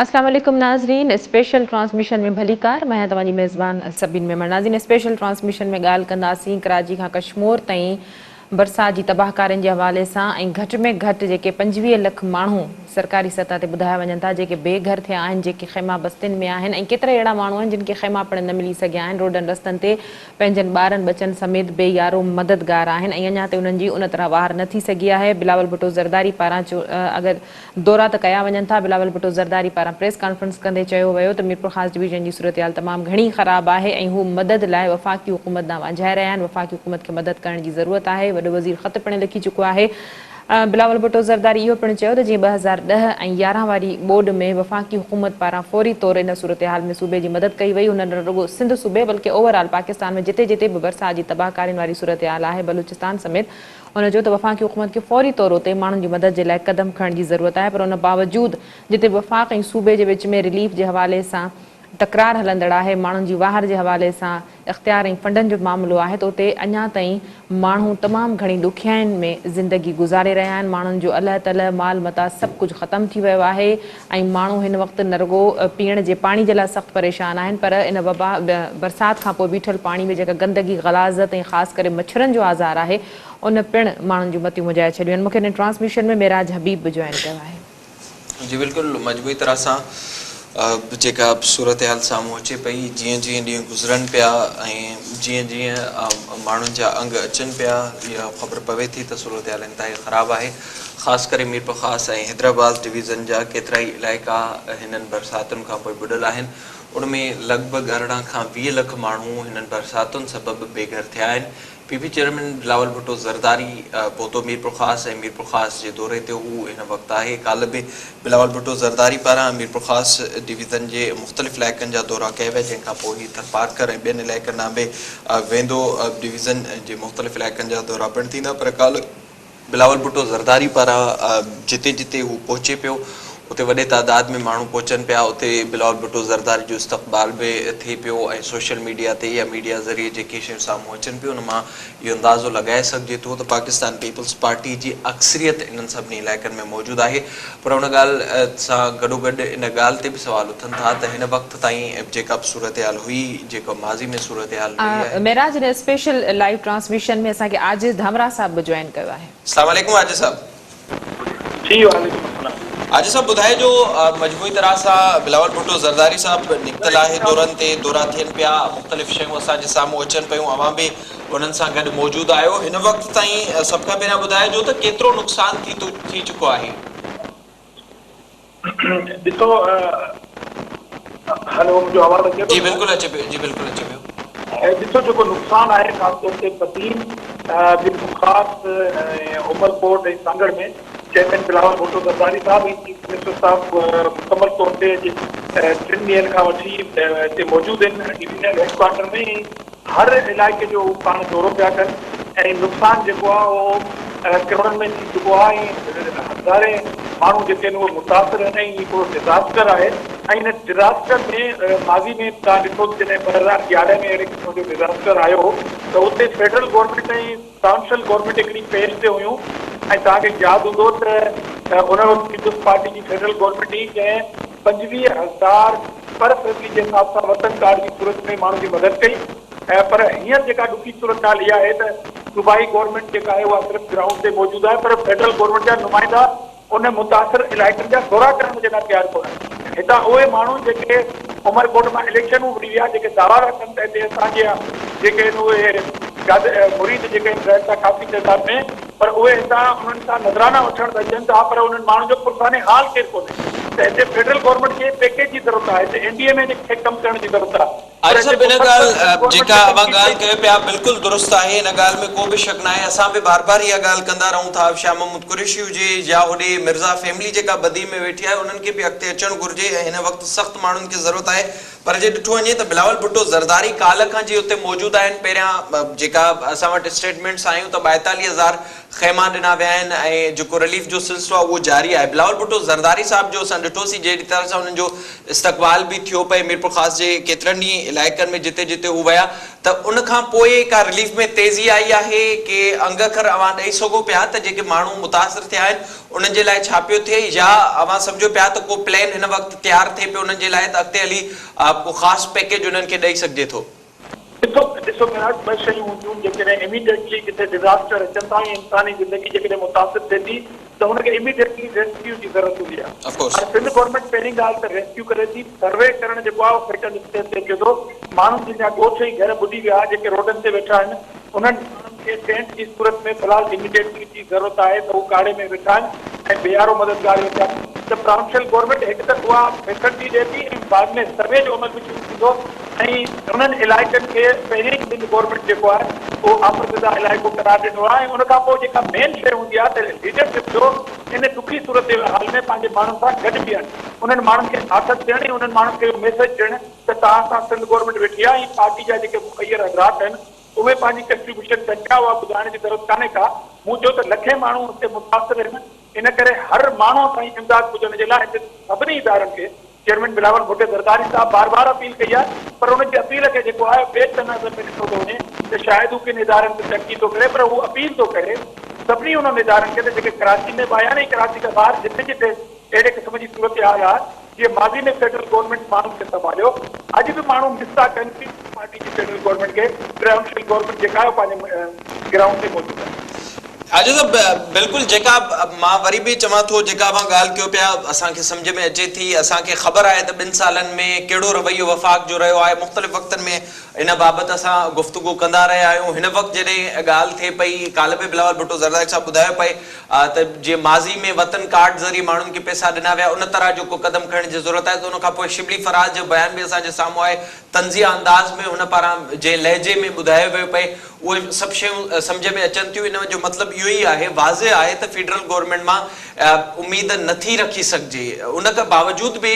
اسلام عليڪم ناظرين اسپيشل ٽرانسميشن ۾ ڀليڪار مان آهيان توهان جي ميزبان سبين ميمڻ ناظرين اسپيشل ٽرانسميشن ۾ ڳالهه ڪنداسين ڪراچي کان ڪشمور تائين برسات جي تباهڪارين جي حوالي سان ۽ گهٽ ۾ گهٽ جيڪي پنجويهه لک ماڻهو سرڪاري سطح تي ٻڌايا وڃن ٿا جيڪي بي گهر ٿيا آهن جيڪي خيما بستين ۾ آهن ۽ ڪيترائي اهڙا ماڻهو آهن جن کي خيما پڻ نه ملي سگهيا آهن روڊن رستن تي پنهنجن ٻارن ٻچن سميت بي يارو مددگار آهن ۽ اڃا تائين انهن جي ان طرح واهر نه ٿي سگهي آهي بلاول ڀٽو زرداري پاران اگر دورا ته ڪيا وڃن ٿا، بلاول ڀٽو زرداري پاران پريس ڪانفرنس ڪندي چيو ويو ته ميرپورخاص ڊويزن جي صورتحال تمام گهڻي خراب آهي ۽ هو مدد لاء وفاقي حڪومت ڏانهن وانجهائي رهيا آهن، وفاقي حڪومت کي مدد ڪرڻ جي ضرورت آهي، وڏو وزير خط پڻ لکي چڪو آهي. بلاول ڀٽو زرداري اهو پڻ چيو ته جيئن ٻه هزار ڏهه ۽ يارهن واري ٻوڏ ۾ وفاقي حڪومت پاران فوري طور ان صورتحال ۾ صوبي جي مدد ڪئي وئي هن نه رڳو سنڌ صوبي بلڪه اوور آل پاڪستان ۾ جتي جتي به برسات جي تباهه ڪارين واري صورتحال آهي بلوچستان سميت هن چيو ته وفاقي حڪومت کي فوري طور تي ماڻهن جي مدد جي لاء قدم کڻڻ جي ضرورت آهي پر ان باوجود جتي وفاق ۽ صوبي جي وچ ۾ رليف جي حوالي سان تڪرار هلندڙ آهي، ماڻهن جي واهر جي حوالي سان اختيار ۽ فنڊن جو معاملو آهي ته اتي اڃا تائين ماڻهو تمام گهڻي ڏکيائين ۾ زندگي گذاري رهيا آهن، ماڻهن جو الهه تلهه، مال متاع سڀ ڪجهه ختم ٿي ويو آهي. ۽ ماڻهو هن وقت نه رڳو پيئڻ جي پاڻي جي لاء سخت پريشان آهن پر ان وبا برسات کان پوء بيٺل پاڻي ۾ جيڪا گندگي، غلاظت ۽ خاص ڪري مڇرن جو آزار آهي ان پڻ ماڻهن جون متيون مجهائي ڇڏيون آهن. مون کي هن ٽرانسميشن ۾ معراج حبيب به جوائن ڪيو آهي. جي بلڪل مجموعي طرح سان جيڪا صورتحال سامهون اچي پئي جيئن جيئن ڏينهن گذرن پيا ۽ جيئن جيئن ماڻهن جا انگ اچن پيا اها خبر پوي ٿي ته صورتحال انتهائي خراب آهي خاص ڪري ميرپورخاص ۽ حيدرآباد ڊويزن جا ڪيترائي علائقا هنن برساتن کانپوء ٻڏل آهن، ان ۾ لڳ ڀڳ ارڙهن کان ويهه لک ماڻهو هنن برساتن سبب بي گهر ٿيا آهن، P P chairman Bilawal Bhutto Zardari پهتو ميرپورخاص ۽ ميرپورخاص جي دوري تي هو هن وقت آهي، ڪالهه به بلاول ڀٽو زرداري پاران ميرپورخاص ڊويزن جي مختلف علائقن جا دورا ڪيا ويا جنهن کانپوء هي ٿرپارڪر ۽ ٻين علائقن ڏانهن به ويندو، ڊويزن جي مختلف علائقن جا دورا پڻ ٿيندا پر ڪالهه. بلاول ڀٽو زرداري پاران جتي جتي هو پهچي پيو اتي وڏي تعداد ۾ ماڻهو پهچن پيا اتي بلاول ڀٽو زرداري جو استقبال به ٿئي پيو ۽ سوشل ميڊيا تي يا ميڊيا ذريعي جيڪي شيون سامهون اچن پيون ان مان اهو اندازو لڳائي سگهجي ٿو ته پاڪستان پيپلز پارٽي جي اڪثريت انهن سڀني علائقن ۾ موجود آهي پر ان ڳالهه سان گڏوگڏ ان ڳالهه تي به سوال اٿن ٿا ته هن وقت تائين جيڪا به صورتحال هئي، جيڪا ماضي ۾ صورتحال رهي آهي. معراج ان اسپيشل لائيو ٽرانسميشن ۾ اسان کي عاجز ڌمراهه صاحب به جوائن ڪيو آهي. اسلام عليڪم عاجز صاحب. جي وعليڪم السلام. عاجز صاحب ٻڌائي جو مجموعي طرح سان بلاول ڀٽو زرداري صاحب نڪتل آهي دورن تي دورا ٿين پيا مختلف شيون اسان جي سامهون اچن پيون اوهان به انهن سان گڏ موجود آهيو هن وقت تائين سڀ کان پهريان ٻڌائي جو ته ڪيترو نقصان ٿي چڪو آهي. ڏسو هلو منهنجو آواز اچي ٿو جي بلڪل اچي پيو جي بلڪل اچي پيو. ڏسو جيڪو نقصان آهي خاص طور تي Badin Mir Mumtaz Umerkot ۽ Sanghar ۾ chairman Bilawal Bhutto Zardari sahib ۽ chief minister صاحب مڪمل طور تي اڄ ٽن ڏينهن کان وٺي هتي موجود آهن ڊويزنل هيڊ ڪوارٽر ۾ هر علائقي جو هو پاڻ دورو پيا ڪن ۽ نقصان جيڪو آهي اهو ڪروڙن ۾ ٿي چڪو آهي ۽ هزارين ماڻهو جيڪي آهن اهي متاثر آهن ۽ هي هڪڙو ڊزاسٽر آهي ۽ هن ڊزاسٽر ۾ ماضي ۾ توهان ڏٺو ته جڏهن ٻه هزار يارهن ۾ اهڙي قسم جو ڊزاسٽر آيو هو ته اتي فيڊرل گورنمينٽ ۽ سانشل گورنمينٽ هڪڙي پيس تي هيون ۽ توهان کي ياد هوندو ته ان وقت پيپلز پارٽي جي فيڊرل گورنمينٽ هئي جنهن پنجويهه هزار پر فيملي جي حساب سان وطن ڪارڊ جي صورت ۾ ماڻهن جي مدد ڪئي ۽ پر هينئر جيڪا ڏکي صورتحال اها آهي ته صوبائي گورنمينٽ جيڪا آهي اها صرف گرائونڊ تي موجود آهي پر فيڊرل گورنمينٽ جا نمائندا ان متاثر علائقن جا دورا ڪرڻ جي لاء تيار ڪونهن. هتان اهي ماڻهو جيڪي عمرڪوٽ مان اليڪشنون وڙهي ويا جيڪي دعوا ٿا ڪن ته هتي اسان جا جيڪي آهن اهي گادر مريد جيڪي آهن رهن ٿا ڪافي تعداد ۾ پر اهي هتان انهن سان نظرانا وٺڻ ته اچن ٿا پر انهن ماڻهن جو پرسان حال ڪير ڪونهي ته هتي فيڊرل گورنمينٽ کي پيڪيج جي ضرورت آهي هتي اين ڊي ايم اي کي ڪم ڪرڻ جي ضرورت آهي. عجب ان ڳالهه جيڪا اوهان ڳالهه ڪيو پيا بلڪل درست آهي ان ڳالهه ۾ ڪو به شڪ ناهي اسان به بار بار اها ڳالهه ڪندا رهون ٿا شاهه محمود قريشي هجي يا هوڏي مرزا فيملي جيڪا بدين ۾ ويٺي آهي انهن کي به اڳتي اچڻ گهرجي ۽ هن وقت سخت ماڻهن کي ضرورت آهي پر جي ڏٺو وڃي ته بلاول ڀٽو زرداري ڪالهه کان جي اتي موجود آهن پهريان جيڪا اسان وٽ اسٽيٽمينٽس آيون ته ٻائيتاليهه هزار خيما ڏنا ويا آهن ۽ جيڪو رليف جو سلسلو آهي اهو جاري آهي بلاول ڀٽو زرداري صاحب جو اسان ڏٺوسين جهڙي طرح سان انهن جو استقبال به ٿيو پئي ميرپورخاص جي ڪيترن ئي علائقن ۾ جتي جتي هو ويا ته ان کان پوء ڪا رليف ۾ تيزي آئي آهي ڪي انگ اکر اوهان ڏئي سگهو پيا ته جيڪي ماڻهو متاثر ٿيا آهن انهن جي لاء ڇا پيو ٿئي يا اوهان سمجهو پيا ته ڪو پلين هن وقت تيار ٿئي پيو انهن جي لاء ته اڳتي هلي ڪو خاص پيڪيج انهن کي ڏئي سگهجي ٿو. هڪ وقت ڏسو ميراث ٻه شيون هونديون جيڪڏهن اميڊيٽلي ڪٿي ڊزاسٽر اچن ٿا ۽ انساني زندگي جيڪڏهن متاثر ٿئي ٿي ته هن کي اميڊيٽلي ريسڪيو جي ضرورت هوندي آهي Of course. پر سنڌ گورنمينٽ پهرين ڳالهه ته ريسڪيو ڪري ٿي سروي ڪرڻ جيڪو آهي اهو فيٽل اسٽيج تي اچي ٿو ماڻهن جن جا ڳوٺ ۽ گهر ٻڏي ويا جيڪي روڊن تي ويٺا آهن انهن ماڻهن کي ٽينٽ جي صورت ۾ في الحال اميڊيٽلي جي ضرورت آهي ته هو ڪاڙهي ۾ ويٺا آهن ۽ بيهارو مددگار اهو ٿيا ته پراونشل گورنمينٽ هڪ ته اها فيسلٽي ڏئي ٿي ۽ بعد ۾ سروي جو عمل به شروع ٿيندو ۽ انهن علائقن کي پهرين ئي سنڌ گورنمينٽ جيڪو آهي اهو آفت زده علائقو قرار ڏنو آهي ۽ ان کان پوء جيڪا مين شيء هوندي آهي ته ليڊرشپ جو ان ڏکي صورتحال ۾ پنهنجي ماڻهن سان گڏ بيهڻ انهن ماڻهن کي آٿت ڏيڻ ۽ انهن ماڻهن کي اهو ميسيج ڏيڻ ته توهان سان سنڌ گورنمينٽ ويٺي آهي ۽ پارٽي جا جيڪي مخير حضرات آهن اهي پنهنجي ڪنٽريبيوشن ڪن پيا اها ٻڌائڻ جي ضرورت ڪانهي ڪا، مون چيو ته لکين ماڻهو ان تي متاثر هن ان ڪري هر ماڻهو تائين امداد پڄڻ جي لاء هتي سڀني ادارن کي چيئرمين بلاول ڀٽي زرداري صاحب بار بار اپيل ڪئي آهي پر ان جي اپيل کي جيڪو آهي ٻئي چئن نظر ۾ ڏٺو ٿو وڃي ته شايد هو ڪن ادارن تي تنقيد ٿو ڪري پر هو اپيل ٿو ڪري سڀني انهن ادارن کي ته جيڪي ڪراچي ۾ به آيا آهن ۽ ڪراچي کان ٻاهر جتي جتي اهڙي قسم جي صورتحال آهي جيئن ماضي ۾ فيڊرل گورنمينٽ ماڻهن کي سنڀاليو، اڄ به ماڻهو مس ٿا ڪن پيپلز پارٽي جي فيڊرل گورنمينٽ کي، ٽريونشل گورنمينٽ جيڪا آهي پنهنجي گرائونڊ تي موجود آهي. آجو صاحب بلڪل جيڪا مان وري به چوان ٿو جيڪا اوهان ڳالهه ڪيو پيا اسان کي سمجهه ۾ اچي ٿي اسان کي خبر آهي ته ٻن سالن ۾ ڪهڙو رويو وفاق جو رهيو آهي مختلف وقتن ۾ ان بابت اسان گفتگو ڪندا رهيا آهيون هن وقت جڏهن ڳالهه ٿئي پئي ڪالهه به بلاول ڀٽو زرداري صاحب ٻڌايو پئي آ ته جيئن ماضي ۾ وطن ڪارڊ ذريعي ماڻهن کي پئسا ڏنا ويا ان طرح جو ڪو قدم کڻڻ جي ضرورت آهي ته ان کانپوء شبلي فراز جو بيان به اسان جي سامهون آهي طنزيه انداز ۾ هن پاران جنهن لهجي ۾ ٻڌايو ويو پئي اهي سڀ شيون سمجهه ۾ اچن ٿيون ان جو مطلب اهو ئي آهي واضح آهي ته فيڊرل گورنمينٽ مان اميد نٿي رکي سگهجي ان کان باوجود به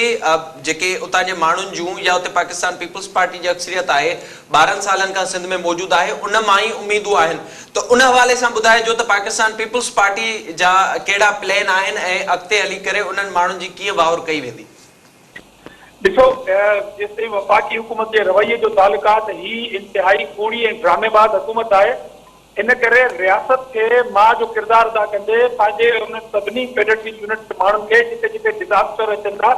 جيڪي اتان جي ماڻهن جون يا اتي پاڪستان پيپلز پارٽي جي اڪثريت آهي ٻارهن سالن کان سنڌ ۾ موجود آهي ان مان ئي اميدون آهن ته ان حوالي سان ٻڌائجو ته پاڪستان پيپلز پارٽي جا ڪهڙا پلين آهن ۽ اڳتي هلي ڪري انهن ماڻهن جي ڪيئن واهر ڪئي ويندي. ڏسو جيستائين وفاقي حڪومت جي رويي جو تعلق آهي ته هي انتهائي ڪوڙي ۽ ڊرامي باز حڪومت آهي ان ڪري رياست کي ماء جو ڪردار ادا ڪندي پنهنجي انهن سڀني ڪيڊٽ جي يونٽ جي ماڻهن کي جتي جتي ڊزاسٽر اچن ٿا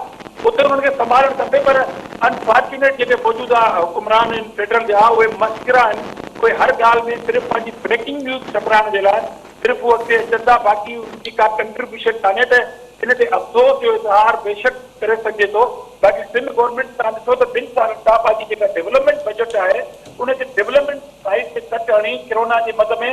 اتي انهن کي سنڀالڻ کپي پر Unfortunate جيڪي موجوده حڪمران آهن فيڊرل جا اهي مسخرا آهن اهي هر ڳالهه ۾ صرف پنهنجي بريڪنگ نيوز ڇپرائڻ جي لاء صرف هو اڳتي اچن ٿا باقي انهن جي ڪا ڪنٽريبيوشن ڪانهي ته ان تي افسوس جو اظهار بيشڪ ڪري سگهجي ٿو باقي سنڌ گورنمينٽ تان ڏسو ته ٻن سالن کان پنهنجي جيڪا ڊيولپمينٽ بجيٽ آهي ان جي ڊيولپمينٽ سائيز تي ڪٽ هڻي ڪرونا جي مد ۾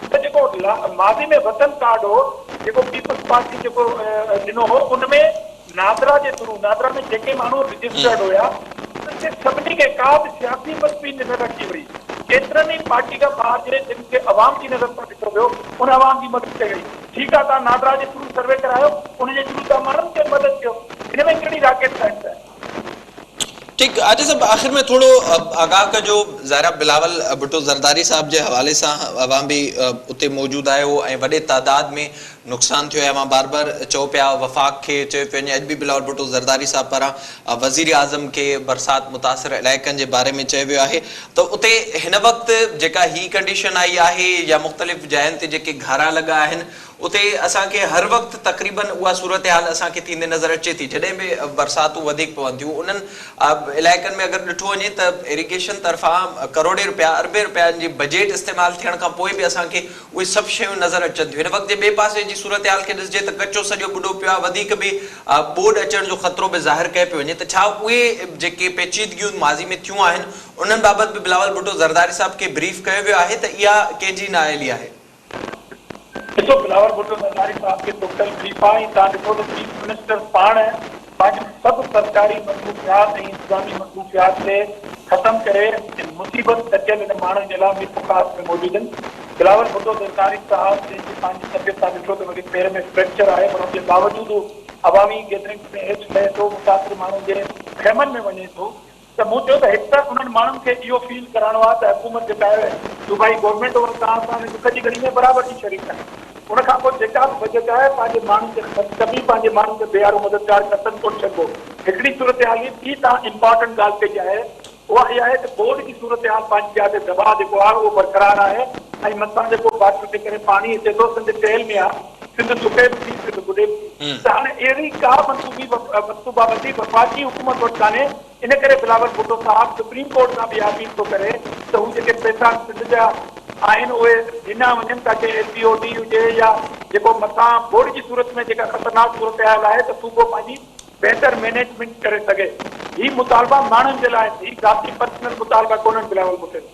هن جيڪو ماضي ۾ وطن ڪارڊ هو جيڪو پيپلز پارٽي جيڪو ڏنو هو ان ۾ نادرا جي ٿرو نادرا ۾ جيڪي ماڻهو رجسٽرڊ هيا انهن کي سڀني کي ڪا به سياسي پسپين نه رکي وئي ڪيترن ئي پارٽي کان ٻاهر جي جن کي عوام جي نظر سان ڏٺو ويو ان عوام جي مدد ڪئي وئي ٺيڪ آهي تان نادرا جي ٿرو سروي ڪرايو ان جي ٿرو تان ماڻهن کي مدد ڪيو هن ۾ ڪهڙي راڪيٽ سائنس آهي. ٺيڪ آجي صاحب آخر ۾ ٿورو آگاھ ڪجو ظاھرا بلاول ڀٽو زرداري صاحب جي حوالي سان اوھان به اتي موجود آھيو ۽ وڏي تعداد ۾ نقصان ٿيو آھي اوھان بار بار چئو پيا وفاق کي چيو پيو وڃي اڄ به بلاول ڀٽو زرداري صاحب پاران وزير اعظم کي برسات متاثر علائقن جي باري ۾ چيو ويو آھي ته اتي ھن وقت جيڪا ھي ڪنڊيشن آئي آھي يا مختلف جاين تي جيڪي گھارا لڳا آھن اتي اسان کي هر وقت تقريباً اها صورتحال اسان کي ٿيندي نظر اچي ٿي جڏهن به برساتون وڌيڪ پون ٿيون انهن علائقن ۾ اگر ڏٺو وڃي ته ايريگيشن طرفان ڪروڙين رپيا اربين رپين جي بجيٽ استعمال ٿيڻ کان پوء به اسان کي اهي سڀ شيون نظر اچن ٿيون هن وقت جي ٻئي پاسي جي صورتحال کي ڏسجي ته ڪچو سڄو ٻڏو پيو آهي وڌيڪ به ٻوڏ اچڻ جو خطرو به ظاهر ڪيو پيو وڃي ته ڇا اهي جيڪي پيچيدگيون ماضي ۾ ٿيون آهن انهن بابت به بلاول ڀٽو زرداري صاحب کي بريف ڪيو ويو آهي ته اها ڪنهن جي نااهلي آهي ڏسو بلاول ڀٽو زرداري صاحب کي ٽوٽل بريف آ ۽ توهان ڏٺو ته چيف منسٽر پاڻ پنهنجون سڀ سرڪاري مصروفيات ۽ انتظامي مصروفيات کي ختم ڪري ان مصيبت ڏڪيل ان ماڻهن جي لاء ميٺو خاص ۾ موجود ان بلاول ڀٽو زرداري صاحب جنهن جي پنهنجي طبيعت توهان ڏٺو ته وڏي پير ۾ فريڪچر آهي پر ان جي باوجود هو عوامي گيدرنگس ۾ ايڇ لهي ٿو مسافر ماڻهن جي خيمن ۾ وڃي ٿو ته مون چيو ته هڪ ته انهن ماڻهن کي اهو فيل ڪرائڻو آهي ته حڪومت جيڪا آهي صوبائي گورنمينٽ اها ساڻ ساڻ ڏک جي ڳڻي ۾ برابر جي شريڪ آهي ان کان پوء جيڪا به بجيٽ آهي پنهنجي ماڻهن کي خرچ ڪبي پنهنجي ماڻهن کي بيارو مددگار ڪتن ڪونه ڇڏبو هڪڙي صورتحال هي ٻي تان امپارٽنٽ ڳالهه ڪئي آهي اها اها آهي ته بورڊ جي صورتحال پنهنجي جاء تي دٻاء جيڪو آهي اهو برقرار آهي ۽ مٿان جيڪو باٽل جي ڪري پاڻي اچي ٿو سنڌ ٽيل ۾ آهي سنڌ سڪيل ٿي، سنڌ ٻڏيل ٿي ته هاڻي اهڙي ڪا منصوبي منصوبابندي وفاقي حڪومت وٽ ڪانهي، ان ڪري بلاول ڀٽو صاحب سپريم ڪورٽ کان به اها اپيل ٿو ڪري ته هو جيڪي پئسا سنڌ جا آهن اهي ڏنا وڃن تاڪه ايل پي او ڊي هجي يا جيڪو مٿان ٻوڏ جي صورت ۾ جيڪا خطرناڪ صورتحال آهي ته صوبو پنهنجي بهتر مينيجمينٽ ڪري سگهي، هي مطالبا ماڻهن جي لاء آهن، هي ذاتي پرسنل مطالبا ڪونهن بلاول ڀٽو جا.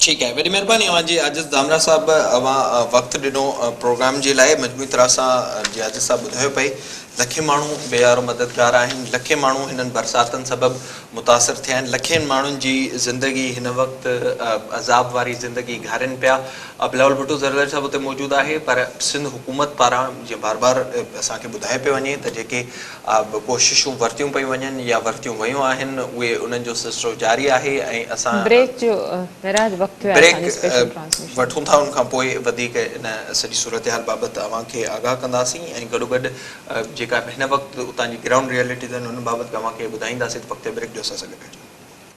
ٺيڪ آهي وڏي مهرباني اوهان جي عاجز ڌامراهه صاحب اوهان وقت ڏنو پروگرام جي لاء مجموعي طرح سان جي عاجز صاحب ٻڌايو پئي لکين ماڻهو بي يارو مددگار آهن لکين ماڻهو هنن برساتن سبب متاثر ٿيا آهن لکين ماڻهن جي زندگي هن وقت عذاب واري زندگي گهارين پيا بلاول ڀٽو زرداري صاحب اتي موجود آهي پر سنڌ حڪومت پاران جيئن بار بار اسان کي ٻڌايو پيو وڃي ته جيڪي آء به ڪوششون ورتيون پيون وڃن يا ورتيون ويون آهن اهي انهن جو سلسلو جاري آهي ۽ اسان بريڪ جو معراج وقت ٿيو آهي بريڪ اسان جي اسپيشل ٽرانسميشن وٺون ٿا ان کان پوء وڌيڪ ان سڄي صورتحال بابت اوهان کي آگاهه ڪنداسين ۽ گڏوگڏ جيڪا به هن وقت اتان جي گرائونڊ ريئلٽيز آهن انهن بابت به اوهان کي ٻڌائينداسين ته وقت بريڪ جو اسان سان گڏ رهجو.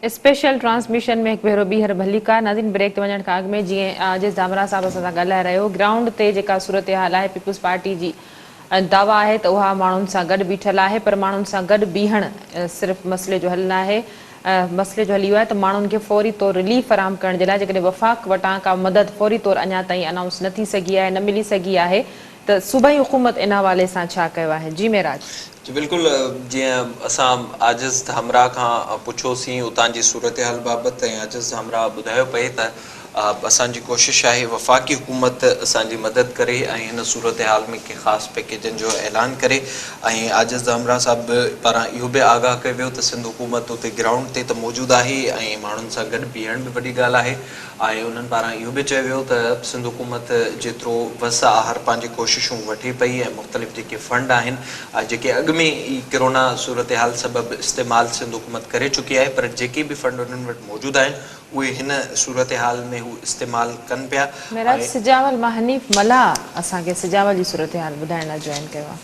اسپيشل ٽرانسميشن ۾ هڪ ڀيرو ٻيهر ڀليڪار ناظرين بريڪ تي وڃڻ کان اڳ ۾ جي جي ڌامراهه صاحب اسان سان ڳالهائي رهيو گرائونڊ تي جيڪا صورتحال آهي پيپلز پارٽي جي دعويٰ آهي ته اها ماڻهن سان گڏ بيٺل آهي پر ماڻهن سان گڏ بيهڻ صرف مسئلي جو حل ناهي مسئلي جو حل اهو آهي ته ماڻهن کي فوري طور رليف فراهم ڪرڻ جي لاء جيڪڏهن وفاق وٽان ڪا مدد فوري طور اڃا تائين انائونس نه ٿي سگهي آهي نه ملي سگهي آهي ته صوبائي حڪومت ان حوالي سان ڇا ڪيو آهي؟ جي معراج. جي بلڪل جيئن اسان عاجز همراهه کان پڇيوسين اتان جي صورتحال بابت ۽ عاجز همراهه ٻڌايو پئي ته اسان جي ڪوشش آهي وفاقي حڪومت اسان جي مدد ڪري ۽ هن صورتحال ۾ ڪي خاص پيڪيجن جو اعلان ڪري ۽ عاجز همراهه صاحب پاران اهو به آگاهه ڪيو ويو ته سنڌ حڪومت اتي گرائونڊ تي ته موجود آهي ۽ ماڻهن سان گڏ بيهڻ به وڏي ڳالهه آهي آهي انهن پاران اهو به چيو ويو ته سنڌ حڪومت جيترو وس آهر پنهنجي ڪوششون وٺي پئي ۽ مختلف جيڪي فنڊ آهن جيڪي اڳ ۾ ئي ڪرونا صورتحال سبب استعمال سنڌ حڪومت ڪري چڪي آهي پر جيڪي به فنڊ انهن وٽ موجود آهن اهي هن صورتحال ۾ هو استعمال ڪن پيا معراج ۽ سجاول مان حنيف ملاح اسان کي سجاول جي صورتحال ٻڌائڻ لاء جوائن ڪيو آهي.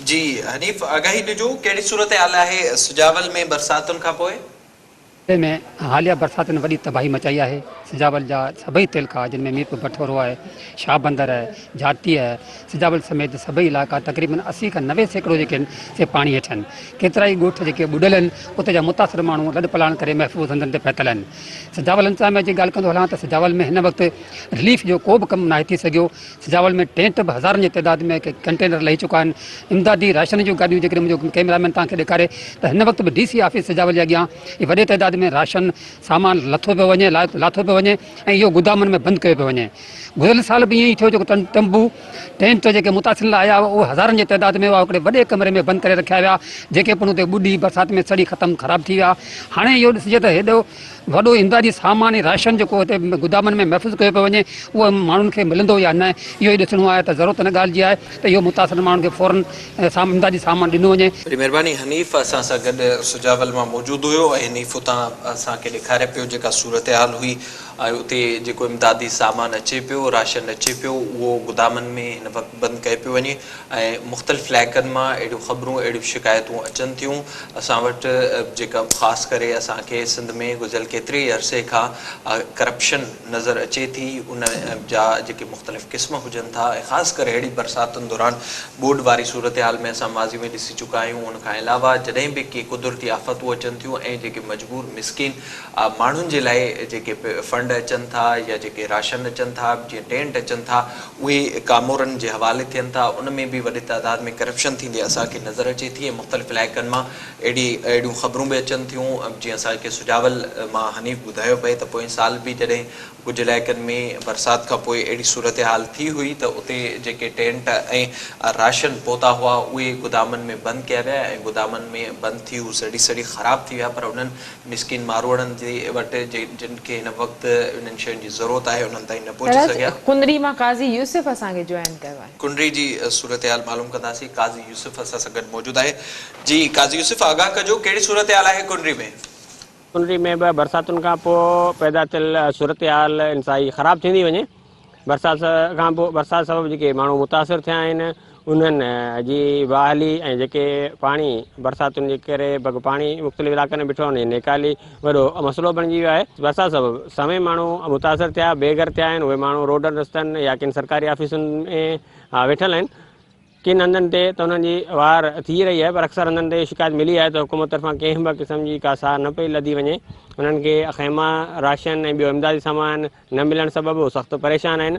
جي حنيف آگاهي ڏجو ڪهڙي صورتحال آهي سجاول ۾ برساتن کانپوء؟ ضلعي ۾ حاليه برساتن وڏي تباهي مچائي آهي، سجاول جا سڀئي تعلقا جن ۾ ميرپور بٺورو آهي، شاهبندر آهي، جاتي آهي، سجاول سميت سڀئي علائقا تقريبن اسي کان نوي سيڪڙو جيڪي آهن سي پاڻي هيٺ آهن، ڪيترائي ڳوٺ جيڪي ٻڏل آهن اتي جا متاثر ماڻهو لڏپلاڻ ڪري محفوظ هنڌن تي پهتل آهن، سجاول انتظاميا جي ڳالهه ڪندو هلان ته سجاول ۾ هن وقت رليف جو ڪو به ڪم ناهي ٿي سگهيو، سجاول ۾ ٽينٽ به هزارن جي تعداد ۾ ڪنٽينر لهي چڪا آهن امدادي راشن جون گاڏيون جيڪڏهن منهنجو ڪئميرا مين توهان کي ڏيکاري ته هن وقت به ڊي سي آفيس سجاول جي اڳيان ئي وڏي تعداد ۾ راشن سامان لٿو پيو وڃي لاٿو پيو وڃي ۽ اهو گودامن ۾ بند ڪيو پيو وڃي گذريل سال به ائين ئي ٿيو جيڪو ٽمبو ٽينٽ جيڪي متاثرين لاء آيا هئا اهي هزارن جي تعداد ۾ هئا هڪڙي وڏي ڪمري ۾ بند ڪري رکيا ويا جيڪي پڻ اتي ٻڏي برسات ۾ سڙي ختم خراب ٿي ويا هاڻي اهو ڏسجي ته هيڏو وڏو امدادي سامان ۽ راشن جيڪو هتي گدامن ۾ محفوظ ڪيو پيو وڃي اهو ماڻهن کي ملندو يا نه اهو ئي ڏسڻو آهي ته ضرورت ان ڳالهه جي آهي ته اهو متاثر ماڻهن کي فورن امدادي سامان ڏنو وڃي. وڏي مهرباني حنيف اسان سان گڏ سجاول مان موجود هيو ۽ حنيف اتان اسان کي ڏيکاري پيو جيڪا صورتحال هئي ۽ اتي جيڪو امدادي سامان اچي پيو راشن اچي پيو اهو گدامن ۾ هن وقت بند ڪيو پيو وڃي ۽ مختلف علائقن مان اهڙيون خبرون اهڙيون شڪايتون اچن ٿيون اسان وٽ جيڪا خاص ڪري اسان کي سنڌ ۾ گذريل ڪيتري ئي عرصي کان ڪرپشن نظر اچي ٿي ان جا جيڪي مختلف قسم هجن ٿا ۽ خاص ڪري اهڙي برساتن دوران ٻوڏ واري صورتحال ۾ اسان ماضي ۾ ڏسي چڪا آهيون ان کان علاوه جڏهن به ڪي قدرتي آفتون اچن ٿيون ۽ جيڪي مجبور مسڪين ماڻهن جي لاء جيڪي فنڊ اچن ٿا يا جيڪي راشن اچن ٿا، جيئن ٽينٽ اچن ٿا، اهي ڪامورن جي حوالي ٿين ٿا، ان ۾ به وڏي تعداد ۾ ڪرپشن ٿيندي اسان کي نظر اچي ٿي ۽ مختلف علائقن مان اهڙي اهڙيون خبرون به اچن ٿيون جيئن اسان کي سجاول مان حنيف ٻڌايو پئي ته پوئين سال به جڏهن ڪجهه علائقن ۾ برسات کان پوء اهڙي صورتحال ٿي هئي ته اتي جيڪي ٽينٽ ۽ راشن پهتا هئا اهي گدامن ۾ بند ڪيا ويا ۽ گدامن ۾ بند ٿي هو سڙي سڙي خراب ٿي ويا پر انهن مسڪين ماروئڙن جي وٽ جن کي هن وقت انهن شين جي ضرورت آهي انهن تائين نه پهچي سگهيا. ڪنري مان قاضي يوسف اسان کي جوائن ڪيو آهي. ڪنري جي صورتحال معلوم ڪنداسين قاضي يوسف اسان سان گڏ موجود آهي جي قاضي يوسف آگاهه ڪجو ڪهڙي صورتحال آهي ڪنري ۾. ڪنري ۾ به برساتن کان پوء پيدا ٿيل صورتحال انتهائي خراب ٿيندي وڃي. برسات کان پوء برسات سبب جيڪي ماڻهو متاثر ٿيا آهن انهن جي بحالي ۽ جيڪي پاڻي برساتن جي ڪري بگ پاڻي مختلف علائقن ۾ بيٺو آهي ان جي نيڪالي وڏو مسئلو بڻجي ويو آهي برسات سبب سوين ماڻهو متاثر ٿيا بي گهر ٿيا آهن اهي ماڻهو روڊن رستن يا ڪن سرڪاري آفيسن ۾ ويٺل آهن. ڪن هنڌن تي ته انهن جي وار ٿي رهي آهي پر اڪثر هنڌن تي شڪايت ملي آهي ته حڪومت طرفان ڪنهن به قسم جي ڪا ساهه نه پئي لڌي وڃي. انهن کي خيما، راشن ۽ ٻيو امدادي سامان نه ملڻ سبب هو سخت پريشان آهن.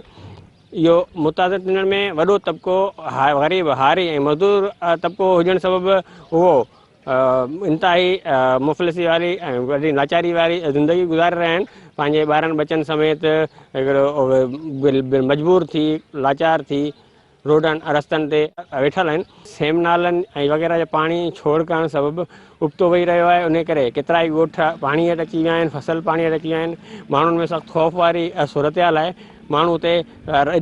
اهو متاثر ٿيندڙن ۾ وڏو طبقو غريب، هاري ۽ مزدور طبقو هجڻ سبب اهو انتهائي مفلسي واري ۽ وڏي لاچاري واري زندگي گذاري رهيا آهن. پنهنجي ٻارن ٻچن سميت مجبور ٿي، لاچار ٿي روڊن ۽ رستن تي ويٺل آهن. سيم نالن ۽ وغيره جو پاڻي ڇوڙ ڪرڻ سبب ابتو وهي رهيو آهي، انهي ڪري ڪيترائي ڳوٺ پاڻي هيٺ اچي ويا آهن، فصل پاڻي هيٺ اچي ويا آهن، ماڻهن ۾ سخت خوف واري صورتحال آهي، ماڻهو اتي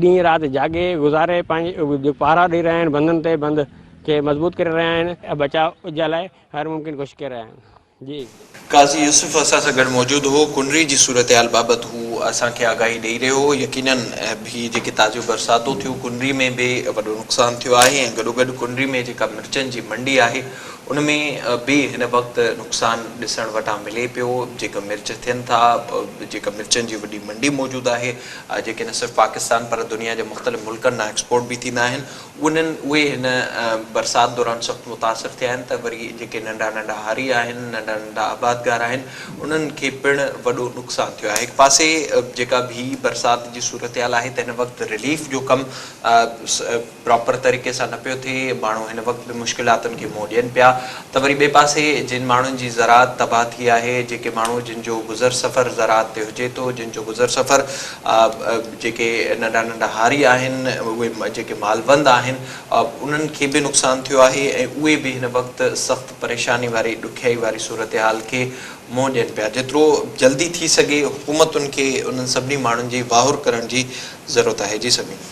ڏينهن رات جاڳي گذاري پنهنجي پهرا ڏئي رهيا آهن، بندن تي بند کي مضبوط ڪري رهيا آهن ۽ بچاء جي لاء هر ممڪن ڪوشش ڪري رهيا آهن. جي. قاضي يوسف اسان سان گڏ موجود هو. ڪنري جي صورتحال بابت هو اسان کي آگاهي ڏئي رهيو هو. يقيناً هي جيڪي تازيون برساتون ٿيون ڪنري ۾ به وڏو نقصان ٿيو آهي ۽ گڏوگڏ ڪنري ۾ جيڪا مرچن جي منڊي آهي ان ۾ به هن وقت نقصان ڏسڻ وٽان ملي پيو جيڪا مرچ ٿين ٿا جيڪا مرچن جي وڏي منڊي موجود آهي جيڪي نه صرف پاڪستان پر دنيا جي مختلف ملڪن ڏانهن ايڪسپورٽ به ٿيندا آهن انهن اهي هن برسات دوران سخت متاثر ٿيا آهن ته وري جيڪي ننڍا ننڍا هاري آهن، ننڍا ننڍا آبادگار آهن، انهن کي پڻ وڏو نقصان ٿيو آهي. هڪ پاسي جيڪا به برسات جي صورتحال آهي ته هن وقت رليف جو ڪم پراپر طريقي سان نه پيو ٿئي، ماڻهو هن وقت به مشڪلاتن کي منهن ڏين پيا ته وري ٻئي پاسي جن ماڻهن جي زراعت تباهه ٿي آهي، جيڪي ماڻهو جن جو گذر سفر زراعت تي هجي ٿو، جن جو گذر سفر آء جيڪي ننڍا ننڍا هاري آهن اهي جيڪي مالوند آهن آء انهن کي به نقصان ٿيو آهي ۽ اهي به هن وقت سخت پريشاني واري ڏکيائي واري صورتحال کي منهن ڏين پيا جيترو جلدي ٿي سگهي حڪومتن کي انهن سڀني ماڻهن جي واهر ڪرڻ جي ضرورت آهي جي سميون.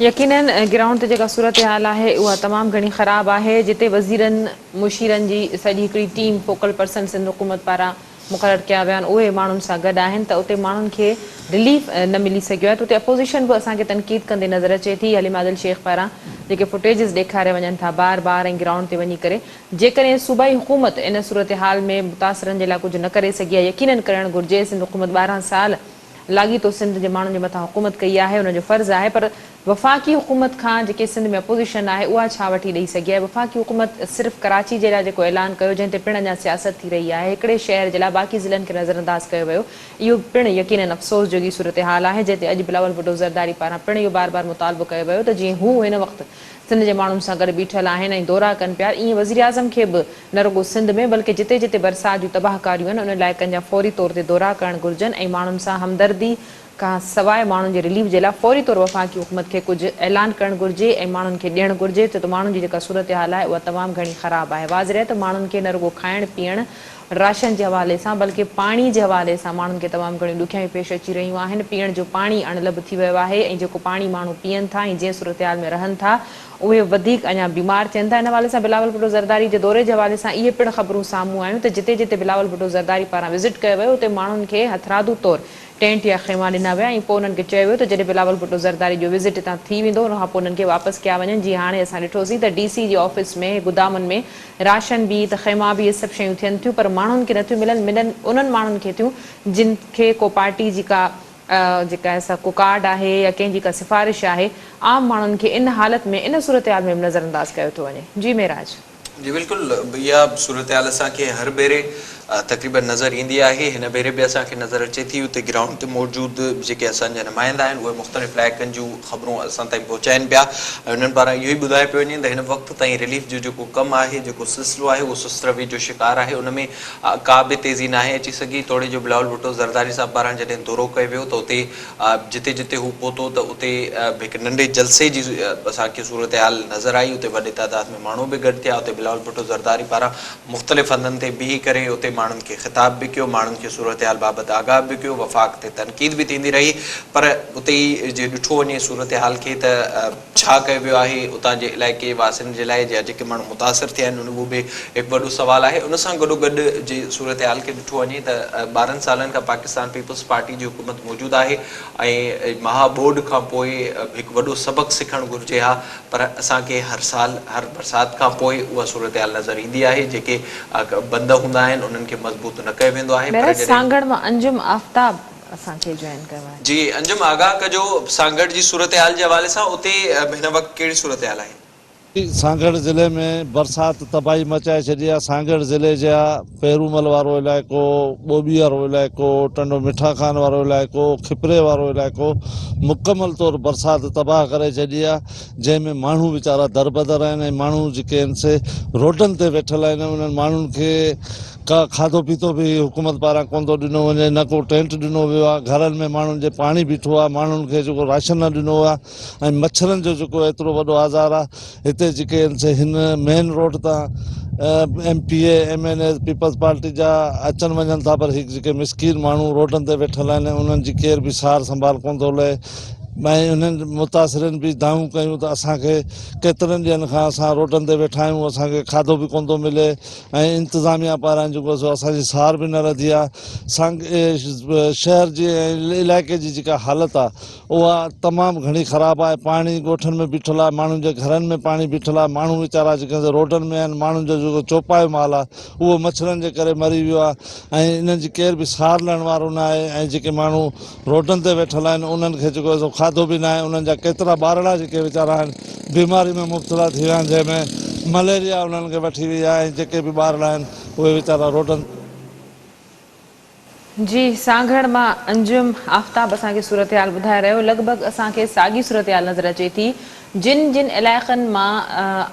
يقينن گرائونڊ تي جيڪا صورتحال آهي اها تمام گهڻي خراب آهي جتي وزيرن مشيرن جي سڄي هڪڙي ٽيم فوڪل پرسن سنڌ حڪومت پاران مقرر ڪيا ويا آهن اهي ماڻهن سان گڏ آهن ته اتي ماڻهن کي رليف نه ملي سگهيو آهي ته اتي اپوزيشن به اسان کي تنقيد ڪندي نظر اچي ٿي حليم عادل شيخ پاران جيڪي فوٽيجز ڏيکاريا وڃن ٿا بار بار ۽ گرائونڊ تي وڃي ڪري جيڪڏهن صوبائي حڪومت ان صورتحال ۾ متاثرن جي لاء ڪجهه نه ڪري سگهي آهي يقينن ڪرڻ گهرجي سنڌ حڪومت ٻارهن سال لاڳيتو سنڌ جي ماڻهن جي مٿان حڪومت ڪئي آهي ان جو فرض آهي پر وفاقي حڪومت کان جيڪي سنڌ ۾ اپوزيشن آهي اها ڇا وٺي ڏئي سگهي آهي وفاقي حڪومت صرف ڪراچي جي لاء جيڪو اعلان ڪيو جنهن تي پڻ اڃا سياست ٿي رهي آهي هڪڙي شهر جي لاء باقي ضلعن کي نظرانداز ڪيو ويو اهو پڻ يقينن افسوس جوڳي صورتحال آهي جنهن تي اڄ بلاول ڀٽو زرداري پاران پڻ اهو بار بار مطالبو ڪيو ويو ته جيئن هو هن وقت سنڌ جي ماڻهن سان گڏ بيٺل آهن ۽ دورا ڪن پيا ايئن وزيراعظم کي به نه رڳو سنڌ ۾ بلڪه جتي جتي برسات جون تباهڪاريون آهن ان علائقن جا فوري طور تي دورا ڪرڻ گهرجن ۽ ماڻهن سان همدردي کان سواء ماڻهن جي رليف جي لاء فوري طور وفاقي حڪومت کي ڪجهه اعلان ڪرڻ گهرجي ۽ ماڻهن کي ڏيڻ گهرجي ڇو ته ماڻهن جي جيڪا صورتحال آهي اها تمام گهڻي خراب آهي واضح رهي ته ماڻهن کي نه رڳو کائڻ پيئڻ راشن جي حوالي سان بلڪه پاڻي جي حوالي سان ماڻهن کي تمام گهڻيون ڏکيائيون پيش اچي رهيون آهن پيئڻ جو پاڻي اڻ لڀ ٿي ويو آهي ۽ جيڪو پاڻي ماڻهو پيئن ٿا ۽ جنهن صورتحال ۾ رهن ٿا اهي وڌيڪ اڃا بيمار ٿين ٿا. ان حوالي سان بلاول ڀٽو زرداري جي دوري جي حوالي سان اهي پڻ خبرون سامهون آيون ته جتي جتي بلاول ڀٽو زرداري پاران وزٽ ڪيو ويو اتي ماڻهن کي هٿرادو طور ٽينٽ يا خيما ڏنا ويا ۽ پوء انهن کي چيو ويو ته جڏهن بلاول ڀٽو زرداري جو وزٽ هتان ٿي ويندو ان کانپوء انهن کي واپس ڪيا وڃن جيئن هاڻي اسان ڏٺو سين ته ڊي سي جي آفيس ۾ گدامن ۾ راشن به ته خيما به اهي سڀ شيون ٿين ٿيون پر ماڻهن کي نٿيون ملن ملن انهن ماڻهن کي ٿيون جن کي ڪو پارٽي جي ڪا اها جيڪا سڪو ڪارڊ آهي يا ڪنهن جي ڪا سفارش آهي، عام ماڻهن کي ان حالت ۾ ان صورتحال ۾ به نظر انداز ڪيو ٿو وڃي. جي معراج. جي بلڪل اها صورتحال اسان کي هر ڀيري تقريبن نظر ايندي آهي، هن ڀيري به اسان کي نظر اچي ٿي، اتي گرائونڊ تي موجود جيڪي اسان جا نمائندا آهن اهي مختلف علائقن جون خبرون اسان تائين پهچائين پيا ۽ انهن پاران اهو ئي ٻڌايو پيو وڃي ته هن وقت تائين رليف جو جيڪو ڪم آهي جيڪو سلسلو آهي اهو سست روي جو شڪار آهي ان ۾ ڪا به تيزي ناهي اچي سگهي، توڙي جو بلاول ڀٽو زرداري صاحب پاران جڏهن دورو ڪيو ويو ته اتي جتي جتي هو پهتو ته اتي به هڪ ننڍي جلسي جي اسان کي صورتحال نظر آئي، اتي وڏي تعداد ۾ ماڻهو به گڏ ٿيا، اتي بلاول ڀٽو زرداري پاران مختلف هنڌن تي بيهي ڪري اتي ماڻهن کي خطاب به ڪيو، ماڻهن کي صورتحال بابت آگاهه به ڪيو، وفاق تي تنقيد به ٿيندي رهي پر اتي جي ڏٺو وڃي صورتحال کي ته ڇا ڪيو ويو آهي اتان جي علائقي واسين جي لاء جي جيڪي ماڻهو متاثر ٿيا آهن اهو به هڪ وڏو سوال آهي ان سان گڏو گڏ جي صورتحال کي ڏٺو وڃي ته ٻارهن سالن کان پاڪستان پيپلز پارٽي جي حڪومت موجود آهي ۽ مها ٻوڏ کان پوء هڪ وڏو سبق سکڻ گهرجي ها پر اسان کي هر سال هر برسات کان پوء اها صورتحال نظر ايندي آهي جيڪي بند هوندا آهن انهن کي مضبوط نه ڪيو ويندو آهي پر جڏهن سانگهڙ مان انجم آفتاب. اسان کي جوائن ڪيو آهي. جي انجم آگاهه ڪجو سانگهڙ جي صورتحال جي حوالي سان اتي هن وقت ڪهڙي صورتحال آهي. سانگهڙ ضلعي ۾ برسات تباهي مچائي ڇڏي آهي، سانگهڙ ضلعي جي پيرومل وارو علائقو، ٻوٻي وارو علائقو، ٽنڊو مٺا خان وارو علائقو، کپري وارو علائقو مڪمل طور برسات تباهه ڪري ڇڏي آهي جنهن ۾ ماڻهو ويچارا دربدر آهن ۽ ماڻهو جيڪي آهن سي روڊن تي ويٺل آهن انهن ماڻهن کي ڪا کاڌو پيتو به حڪومت پاران ڪونه ٿو ڏنو وڃي نه ڪو ٽينٽ ڏنو ويو آهي گهرن ۾ ماڻهن جي پاڻي بيٺو آهي ماڻهن کي جيڪو راشن نه ڏنو ويو آهي ۽ مڇرن جو جيڪو ايترو وڏو آزار آهي هتي جيڪي هن مين روڊ تان M P A M N A Peoples Party جا اچن وڃن ٿا پر هي جيڪي مسڪين ماڻهو روڊن تي ويٺل آهن انهن جي ڪير به سار سنڀال ڪونه ٿو لهي ۽ انهن متاثرين به دانهون ڪيون ته اسانکي ڪيترن ڏينهن کان اسان روڊن تي ويٺا آهيون اسانکي کاڌو به ڪونه ٿو ملي ۽ انتظاميا پاران جيڪو سو اسان جي سار به نه رڌي آ سانگ شهر جي ۽ علائقي جي جيڪا حالت آ اها تمام گهڻي خراب آ پاڻي ڳوٺن ۾ بيٺل آ ماڻهن جي گهرن ۾ پاڻي بيٺل آ ماڻهو ويچارا جيڪا سو روڊن ۾ آهن ماڻهن جو جيڪو چوپايو مال آ اهو مڇرن جي ڪري مري ويو آ ۽ انهن جي ڪير به سار لهڻ وارو نه آهي ۽ جيڪي ماڻهو روڊن تي ويٺل آهن انهن کي جيڪو سو کاڌو به ناهي انهن جا ڪيترا ٻارڙا جيڪي ويچارا آهن بيماري ۾ مبتلا ٿي ويا آهن جنهن ۾ مليريا انهن کي وٺي وئي آهي ۽ جيڪي به ٻارڙا آهن اهي ويچارا روڊن جي سانگهڙ مان انجم آفتاب اسان کي صورتحال ٻڌائي رهيو لڳ ڀڳ اسان کي ساڳي صورتحال نظر اچي ٿي جن جن علائقن مان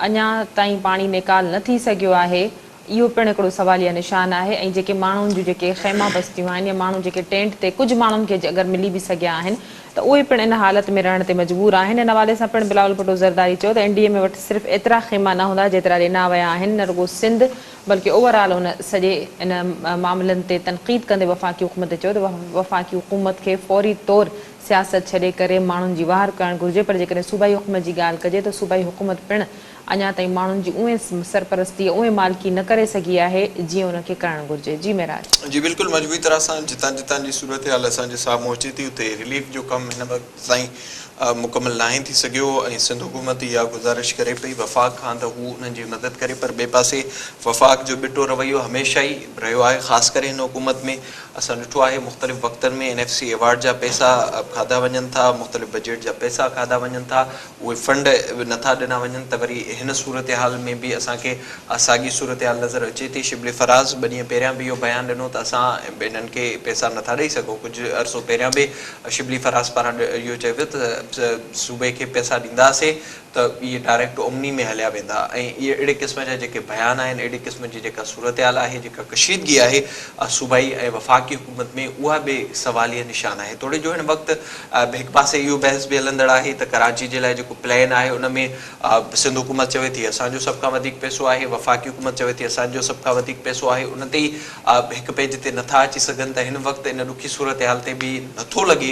اڃا تائين پاڻي نيڪال نه ٿي سگهيو آهي اهو پڻ هڪڙو سواليه نشان آهي ۽ جيڪي ماڻهن جون جيڪي خيما بستيون آهن يا ماڻهو جيڪي ٽينٽ تي ڪجهه ماڻهن کي اگر ملي به سگهيا آهن ته اهي پڻ ان حالت ۾ رهڻ تي مجبور آهن ان حوالي سان پڻ بلاول ڀٽو زرداري چيو ته اين ڊي ايم اي وٽ صرف ايترا خيما نه هوندا جيترا ڏنا ويا آهن نه رڳو سنڌ بلڪه اوور آل ان سڄي ان معاملن تي تنقيد ڪندي وفاقي حڪومت تي چيو ته وفاقي حڪومت کي فوري طور سياست ڇڏي ڪري ماڻهن جي واهر ڪرڻ گهرجي پر جيڪڏهن صوبائي حڪومت جي ڳالهه ڪجي ته صوبائي حڪومت پڻ اڃا تائين ماڻهن جي اونهي سرپرستي اونهي مالڪي نه ڪري سگهي آهي جيئن ان کي ڪرڻ گهرجي جي معراج. جي بلڪل مجموعي طرح سان جتان جتان جي صورتحال اسان جي سامهون اچي ٿي اتي رليف جو ڪم هن وقت تائين مڪمل ناهي ٿي سگهيو ۽ سنڌ حڪومت اها گذارش ڪري پئي وفاق کان ته هو انهن جي مدد ڪري پر ٻئي پاسي وفاق جو ٻٽو رويو هميشه ئي رهيو آهي خاص ڪري هن حڪومت ۾ اسان ڏٺو آهي مختلف وقتن ۾ اين ايف سي ايوارڊ جا پئسا کاڌا وڃن ٿا مختلف بجيٽ جا پئسا کاڌا وڃن ٿا اهي فنڊ به نٿا ڏنا وڃن ته وري هن صورتحال ۾ به اسان کي اها ساڳي صورتحال نظر اچي ٿي، شبلي فراز ٻه ڏينهن پهريان به اهو بيان ڏنو ته اسان هنن کي پئسا نٿا ڏئي سگهون، ڪجهه عرصو پهريان به شبلي فراز پاران اهو چيو ويو ته صوبي کي پئسا ڏينداسين ته اهي ڊائريڪٽ اومني ۾ هليا ويندا ۽ اهي اهڙي قسم جا جيڪي بيان آهن اهڙي قسم جي جيڪا صورتحال آهي جيڪا ڪشيدگي آهي اها صوبائي ۽ وفاقي حڪومت ۾ اها به سواليه نشان آهي توڙي جو هن وقت هڪ پاسي اهو بحث به هلندڙ آهي ته ڪراچي جي لاء جيڪو پلان آهي ان ۾ سنڌ حڪومت چوي ٿي اسان جو سڀ کان وڌيڪ پئسو آهي، وفاقي حڪومت چوي ٿي اسان جو سڀ کان وڌيڪ پئسو آهي ان تي ئي هڪ پيج تي نه ٿا اچي سگهن ته هن وقت ان ڏکي صورتحال تي به نه ٿو لڳي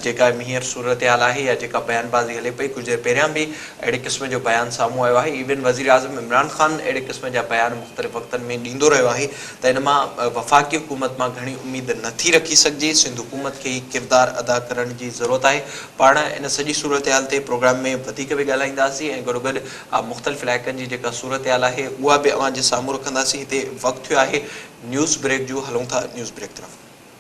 جيڪا هينئر صورتحال آهي يا جيڪا بيان بازي هلي پئي ڪجهه دير پهريان به اهڙي قسم جو بيان سامهون آيو آهي ايون وزيراعظم عمران خان اهڙي قسم جا بيان مختلف وقتن ۾ ڏيندو رهيو آهي ته ان مان وفاقي حڪومت مان گهڻي اميد نه ٿي رکي سگهجي، سنڌ حڪومت کي هي ڪردار ادا ڪرڻ جي ضرورت آهي. پاڻ ان سڄي صورتحال تي پروگرام ۾ وڌيڪ به ڳالهائينداسين ۽ گڏوگڏ مختلف علائقن جي جيڪا صورتحال آهي اها به اوهان جي سامهون رکنداسين. هتي وقت ٿيو آهي نيوز بريڪ جو هلون ٿا نيوز بريڪ طرف.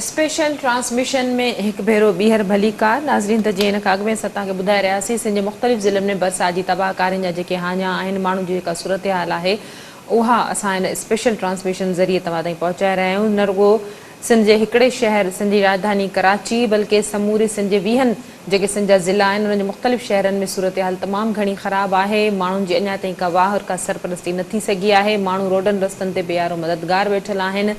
اسپيشل ٽرانسميشن ۾ هڪ ڀيرو ٻيهر ڀلي ڪار ناظرين ته جيئن ان کان اڳ ۾ اسان توهان کي ٻڌائي رهياسين سنڌ جي مختلف ضلعن ۾ برسات جي تباهه ڪارين جا جيڪي هاڃا آهن ماڻهن جي جيڪا صورتحال آهي اها اسان هن اسپيشل ٽرانسميشن ذريعي توهان تائين پهچائي رهيا آهيون نه رڳو سنڌ جي هڪڙي شهر سنڌ جي راڄڌاني ڪراچي بلڪه سموري سنڌ جي ويهن جيڪي سنڌ جا ضلعا آهن انهن جي مختلف شهرن ۾ صورتحال تمام گهڻي خراب آهي ماڻهن جي اڃا تائين ڪا واهه ڪا سرپرستي نه ٿي سگهي آهي ماڻهو روڊن رستن تي بيارو مددگار ويٺل آهن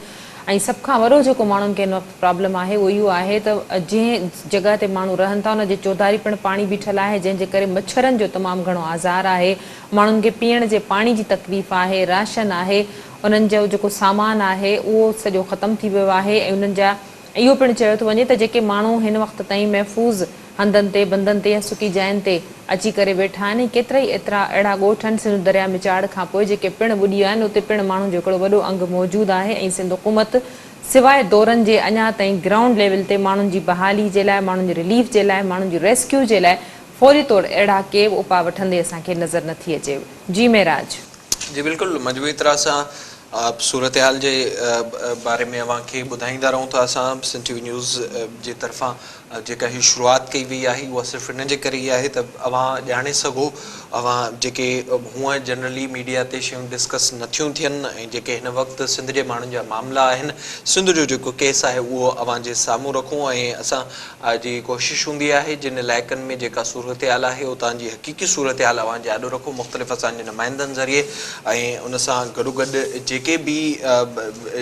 ۽ سڀ کان وڏو جيڪو ماڻهن کي هن وقت پرابلم آهي اهو اهو آهي ته جنهن جڳهه تي ماڻهو رهن ٿا ان جي چوڌاري پڻ پاڻي بيٺل آهي جنهن جي ڪري مڇرن جو تمام گهڻو آزار آهي ماڻهن کي پيئڻ جي پاڻي جي تڪليف آهي راشن آهي انهن جو جيڪو سامان آهي اهو سڄو ختم ٿي ويو آهي ۽ انهن جا اهو پڻ چيو ٿو وڃي ته جيڪي ماڻهو هن وقت تائين محفوظ هنڌن تي، بندن تي يا سڪي جاين تي اچي ڪري ويٺا آهن ۽ ڪيترائي ايترا اهڙا ڳوٺ آهن سنڌو درياء ۾ چاڙهه کان پوء جيڪي پڻ ٻڏي ويا آهن اتي پڻ ماڻهن جو هڪڙو وڏو انگ موجود آهي ۽ سنڌ حڪومت سواء دورن جي اڃا تائين گرائونڊ ليول تي ماڻهن جي بحالي جي لاء ماڻهن جي رليف جي لاء ماڻهن جي ريسڪيو جي لاء فوري طور اهڙا ڪي به اپاء وٺندي اسان کي نظر نه ٿي اچي جي معراج. جي بلڪل مجموعي طرح سان صورتحال جي باري ۾ اوهان کي ٻڌائيندا رهون ٿا اسان سنڌ ٽي وي نيوز جي طرفان جيڪا هي شروعات ڪئي وئي آهي اها صرف ان جي ڪري ئي آهي ته اوهان ڄاڻي سگهو اوهان جيڪي هونئن جنرلي ميڊيا تي شيون ڊسڪس نه ٿيون ٿين ۽ جيڪي هن وقت سنڌ جي ماڻهن جا معاملا آهن سنڌ جو جيڪو ڪيس آهي اهو اوهان جي سامهون رکون ۽ اسان جي ڪوشش هوندي آهي جن علائقن ۾ جيڪا صورتحال آهي اتان جي حقيقي صورتحال اوهان جي آڏو رکون مختلف اسان جي نمائندن ذريعي ۽ ان سان گڏوگڏ جيڪي به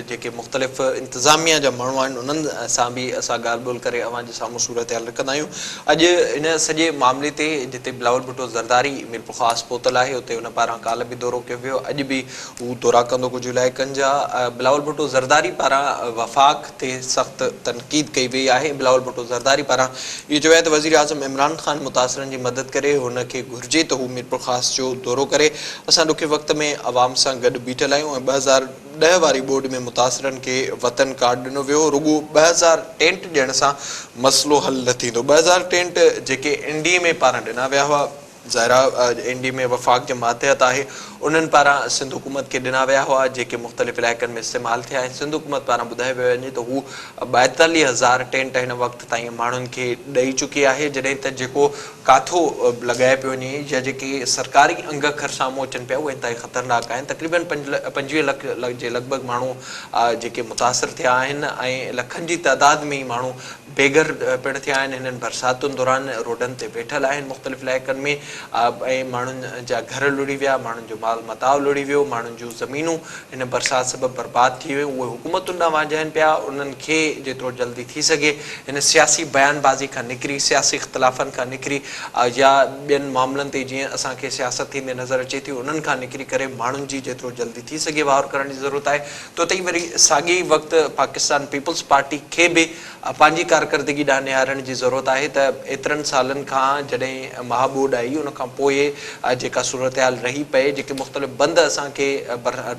جيڪي مختلف انتظاميا جا ماڻهو آهن انهن سان به اسان ڳالهه ٻولهه ڪري اوهان جي سامهون صورتحال رکندا آهيون اڄ ان سڄي معاملي تي جتي بلاول ڀٽو زرداري ميرپورخاص پهتل آهي اتي ان پاران ڪالهه به دورو ڪيو ويو اڄ به هو دورا ڪندو ڪجهه علائقن جا بلاول ڀٽو زرداري پاران وفاق تي سخت تنقيد ڪئي وئي آهي بلاول ڀٽو زرداري پاران اهو چيو آهي ته وزيراعظم عمران خان متاثرن جي مدد ڪري هن کي گهرجي ته هو ميرپورخاص جو دورو ڪري اسان ڏکي وقت ۾ عوام سان گڏ بيٺل آهيون ۽ ٻه هزار ڏهه واري ٻوڏ ۾ متاثرن کي وطن ڪارڊ ڏنو ويو هو رڳو ٻه هزار ٽينٽ ڏيڻ سان مسئلو حل نه ٿيندو ٻه هزار ٽينٽ جيڪي اين ڊي ايم اي پاران ڏنا ويا هئا ذرا اين ڊي ۾ وفاق جي ماتحت آهي انهن پاران سنڌ حڪومت کي ڏنا ويا هئا جيڪي مختلف علائقن ۾ استعمال ٿيا ۽ سنڌ حڪومت پاران ٻڌايو ويو وڃي ته هو ٻائيتاليهه هزار ٽينٽ هن وقت تائين ماڻهن کي ڏئي چڪي آهي جڏهن ته جيڪو ڪاٿو لڳايو پيو وڃي يا جيڪي سرڪاري انگ کر سامهون اچن پيا اهي انتهائي خطرناڪ آهن تقريبن پنجويهه لک جي لڳ ڀڳ ماڻهو جيڪي متاثر ٿيا آهن ۽ لکن جي تعداد ۾ ماڻهو بيگهر پڻ ٿيا آهن، هنن برساتن دوران روڊن تي ويٺل آهن، مختلف علائقن ۾ ۽ ماڻهن جا گهر لڙهي ويا، ماڻهن جو مال متاع لڙهي ويو، ماڻهن جون زمينون هن برسات سبب برباد ٿي ويون، اهي حڪومتن ڏانهن وانجهائن پيا، انهن کي جيترو جلدي ٿي سگهي هن سياسي بيان بازي کان نڪري، سياسي اختلافن کان نڪري يا ٻين معاملن تي جيئن اسان کي سياست ٿيندي نظر اچي ٿي انهن کان نڪري ڪري ماڻهن جي جيترو جلدي ٿي سگهي واهر ڪرڻ جي ضرورت آهي، توته ئي وري ساڳئي ئي وقت پاڪستان پيپلز پارٽي کي به پنهنجي ڪارڪردگي ڏانهن نهارڻ جي ضرورت آهي ته ايترن سالن کان جڏهن مها ٻوڏ آئي ان کان پوء جيڪا صورتحال رهي پئي جيڪي مختلف بند اسان کي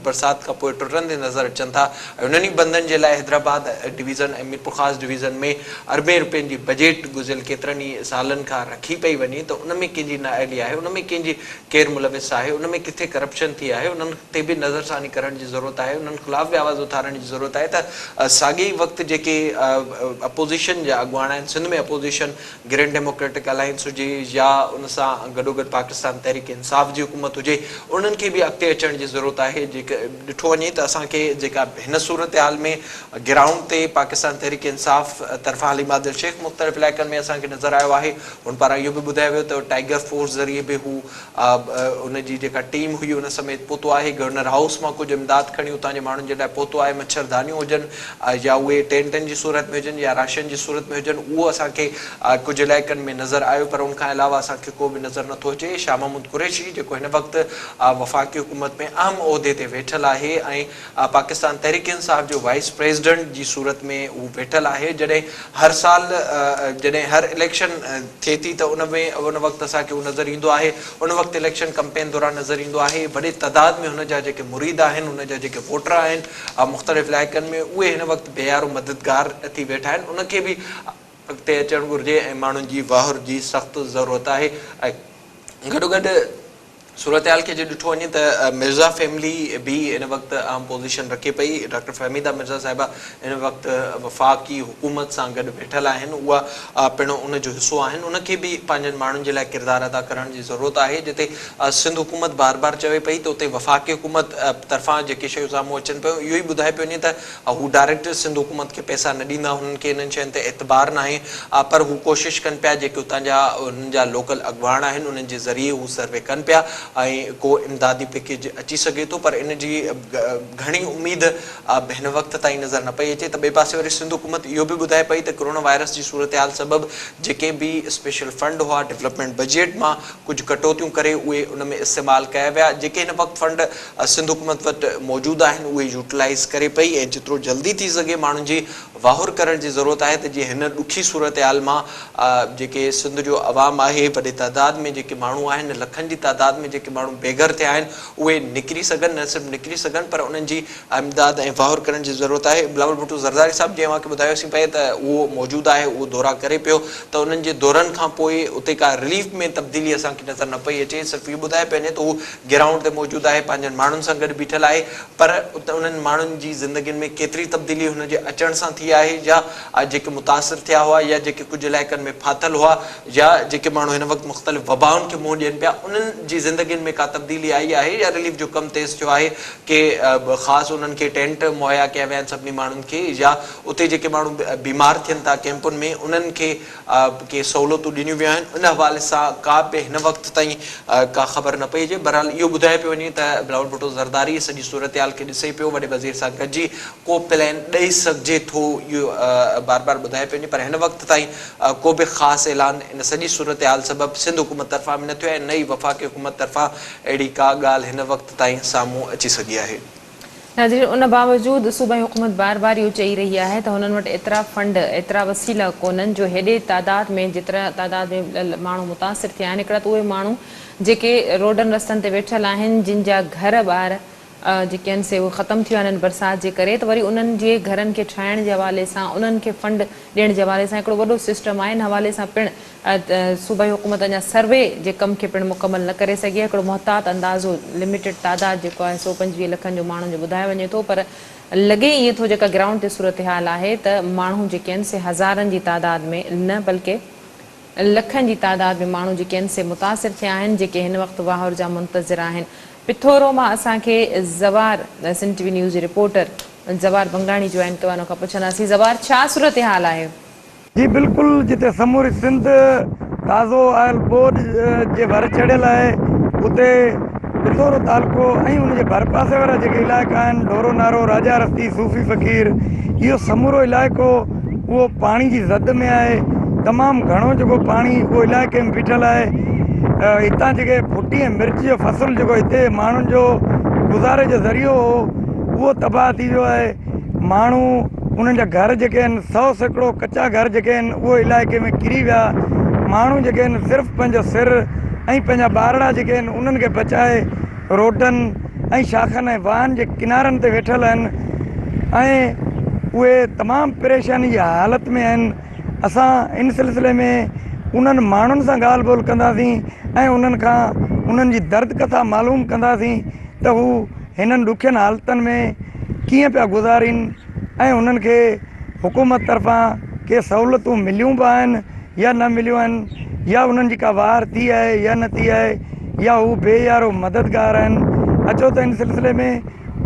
برسات کان پوء ٽٽندي نظر اچن ٿا ۽ انهن ئي بندن جي لاء حيدرآباد ڊويزن ۽ ميرپورخاص ڊويزن ۾ اربين روپين جي بجيٽ گذريل ڪيترن ئي سالن کان رکي پئي وڃي ته ان ۾ ڪنهن جي نااهلي آهي ان ۾ ڪنهن جي ڪير ملوث آهي ان ۾ ڪٿي ڪرپشن ٿي آهي انهن تي به نظرثاني ڪرڻ جي ضرورت آهي انهن خلاف به آواز اٿارڻ جي ضرورت آهي ته ساڳئي ئي وقت جيڪي اپوزيشن جا اڳواڻ آهن Sindh ۾ opposition grand democratic alliance هجي يا ان سان گڏوگڏ پاڪستان تحريڪ انصاف جي حڪومت هجي انهن کي به اڳتي اچڻ جي ضرورت آهي جيڪ ڏٺو وڃي ته اسان کي جيڪا هن صورتحال ۾ گرائونڊ تي پاڪستان تحريڪ انصاف طرفان عليم عادل شيخ مختلف علائقن ۾ اسان کي نظر آيو آهي هن پاران اهو به ٻڌايو ويو ته ٽائيگر فورس ذريعي به هو ان جي جيڪا ٽيم هئي ان سميت پهتو آهي، گورنر هائوس مان ڪجهه امداد کڻي اتان جي ماڻهن جي لاء پهتو آهي، مڇر دانيون هجن يا اهي ٽينٽن جي صورت ۾ هجن يا راشن جي صورت ۾ هجن اهو اسان کي ڪجهه علائقن ۾ نظر آيو پر ان کان علاوه اسان کي ڪو به نظر نٿو اچي، شاهه محمود قريشي جيڪو هن وقت وفاقي حڪومت ۾ اهم عهدي تي ويٺل آهي ۽ آء پاڪستان تحريڪ انصاف جو وائيس پريزيڊنٽ جي صورت ۾ هو ويٺل آهي جڏهن هر سال جڏهن هر اليڪشن ٿئي ٿي ته ان ۾ ان وقت اسان کي هو نظر ايندو آهي ان وقت اليڪشن ڪمپين دوران نظر ايندو آهي وڏي تعداد ۾ هن جا جيڪي مريد آهن هن جا جيڪي ووٽر آهن مختلف علائقن ۾ اهي هن وقت بي يارو مددگار ٿي ويٺا آهن ان کي به اڳتي اچڻ گهرجي ۽ ماڻهن جي واهر جي سخت ضرورت آهي ۽ گڏوگڏ صورتحال کي جي ڏٺو وڃي ته مرزا فيملي به ان وقت اهم پوزيشن رکي پئي، ڊاڪٽر فهميده مرزا صاحبه ان وقت وفاقي حڪومت سان گڏ ويٺل آهن، اها پڻ ان جو حصو آهن، ان کي به پنهنجن ماڻهن جي لاء ڪردار ادا ڪرڻ جي ضرورت آهي، جتي سنڌ حڪومت بار بار چوي پئي ته اتي وفاقي حڪومت طرفان جيڪي شيون سامهون اچن پيون اهو ئي ٻڌائي پيو وڃي ته هو ڊائريڪٽرز سنڌ حڪومت کي پئسا نه ڏيندا، هنن کي انهن شين تي اعتبار ناهي، پر هو ڪوشش ڪن پيا، جيڪي اتان جا انهن جا لوڪل اڳواڻ آهن، انهن جي ذريعي هو سروي ڪن پيا ۽ ڪو امدادي پيڪيج اچي سگهي ٿو، پر ان جي گهڻي اميد به هن وقت تائين نظر نه پئي اچي ته ٻئي پاسي وري سنڌ حڪومت اهو به ٻڌائي پئي ته ڪرونا وائرس جي صورتحال سبب جيڪي به اسپيشل فنڊ هئا ڊولپمينٽ بجيٽ مان ڪجهه ڪٽوتيون ڪري اهي ان ۾ استعمال ڪيا ويا جيڪي هن وقت فنڊ سنڌ حڪومت وٽ موجود آهن اهي يوٽلائيز ڪري پئي ۽ جيترو جلدي ٿي سگهي ماڻهن جي واهر ڪرڻ جي ضرورت آهي ته جيئن هن ڏکي صورتحال مان جيڪي سنڌ جو عوام آهي وڏي تعداد ۾ جيڪي ماڻهو آهن لکن جي تعداد ۾ جيڪي ماڻهو بيگهر ٿيا آهن اهي نڪري سگهن نه صرف نڪري سگهن پر انهن جي امداد ۽ واهر ڪرڻ جي ضرورت آهي بلاول ڀٽو زرداري صاحب جيئن اوهان کي ٻڌايوسين پئي ته اهو موجود آهي اهو دورا ڪري پيو ته انهن جي دورن کان پوء اتي ڪا رليف ۾ تبديلي اسان کي نظر نه پئي اچي صرف اهو ٻڌائي پئي وڃي ته هو گرائونڊ تي موجود آهي پنهنجن ماڻهن سان گڏ بيٺل آهي پر انهن ماڻهن جي زندگين ۾ ڪيتري تبديلي هن جي اچڻ سان ٿي آهي يا جيڪي متاثر ٿيا هئا يا جيڪي ڪجهه علائقن ۾ ڦاٿل هئا يا جيڪي ماڻهو هن وقت مختلف وبائن کي منهن ڏين پيا انهن جي زندگين ۾ ڪا تبديلي آئي آهي يا رليف جو ڪم تيز ٿيو آهي ڪي خاص انهن کي ٽينٽ مهيا ڪيا ويا آهن سڀني ماڻهن کي يا اتي جيڪي ماڻهو بيمار ٿين ٿا ڪيمپن ۾ انهن کي آء کي سهولتون ڏنيون ويون آهن ان حوالي سان ڪا به هن وقت تائين ڪا خبر نه پئي اچي بهرحال اهو ٻڌايو پيو وڃي ته بلاول ڀٽو زرداري سڄي صورتحال کي ڏسي پيو وڏي وزير سان گڏجي ڪو پلين ڏئي سگهجي ٿو اهو بار بار ٻڌايو پيو وڃي پر هن وقت تائين ڪو به خاص اعلان ان سڄي صورتحال سبب سنڌ حڪومت طرفان به نه ٿيو ۽ نه ئي وفاقي حڪومت طرفان اهڙي ڪا ڳالهه هن وقت تائين سامهون اچي سگهي آهي. ناظرين ان باوجود صوبائي حڪومت بار بار اهو چئي رهي آهي ته هنن وٽ ايترا فنڊ ايترا وسيلا ڪونهن جو هيڏي تعداد ۾ جيترا تعداد ۾ ماڻهو متاثر ٿيا آهن هڪڙا ته اهي ماڻهو جيڪي روڊن رستن تي ويٺل آهن جن جا گهر ٻار جيڪي آهن سي اهي ختم ٿي ويا آهن برسات جي ڪري ته وري انهن جي گهرن کي ٺاهڻ جي حوالي سان انهن کي فنڊ ڏيڻ جي حوالي سان هڪڙو وڏو سسٽم آهي ان حوالي سان پڻ صوبائي حڪومت اڃا سروي جي ڪم کي پڻ مڪمل نه ڪري سگهي آهي، هڪڙو محتاط اندازو لميٽيڊ تعداد جيڪو آهي سؤ پنجويهه لکن جو ماڻهن جو ٻڌايو وڃي ٿو پر لڳي ائين ٿو جيڪا گرائونڊ تي صورتحال آهي ته ماڻهو جيڪي آهن سي هزارن جي تعداد ۾ نه بلڪه لکن جي تعداد ۾ ماڻهو جيڪي آهن سي متاثر ٿيا آهن جيڪي هن وقت واهر جا منتظر آهن پٿورو مان اسان کي Zawar Sindh T V news جي رپورٽر زوار بنگاڻي جوائن ڪيو آهي ان کان پڇنداسين زوار ڇا صورتحال آهي. جي بلڪل جتي سموري سنڌ تازو آيل ٻوڏ جي ڀر چڙهيل آهي اتي پنڊورو تعلقو ۽ ان جي ڀرپاسي وارا جيڪي علائقا آهن ڍورو نارو راجا رستي صوفي فقير اهو سمورو علائقو اهو پاڻي جي زد ۾ آهي تمام گهڻو جيڪو پاڻي اهو علائقي ۾ بيٺل آهي هتان جيڪي ڦٽي ۽ مرچ جو فصل جيڪو هتي ماڻهن جو گذاري جو ذريعو هو اهو تباهه ٿي ويو آهي ماڻهو انهن جا گهر جيڪي آهن سؤ سيڪڙو ڪچا گهر جيڪي آهن اهي علائقي ۾ ڪري ويا ماڻهو جيڪي آهن صرف پنهنجو سر ۽ پنهنجا ٻارڙا جيڪي آهن انهن کي بچائي روڊن ۽ شاخن ۽ واهن جي ڪنارن تي ويٺل آهن ۽ اهي تمام پريشاني جي حالت ۾ آهن اسان ان سلسلي ۾ انهن ماڻهن سان ڳالهه ٻولهه ڪنداسين ۽ انهن کان انهن جي درد ڪٿا معلوم ڪنداسين ته هو هنن ڏکين حالتن ۾ ڪيئن پيا گذارين ۽ هنن کي حڪومت طرفان ڪي سهولتون مليون به آهن يا نه مليون آهن يا هنن جي ڪا واهر ٿي آهي يا نه ٿي آهي يا هو بي يارو مددگار آهن اچو ته هن سلسلي ۾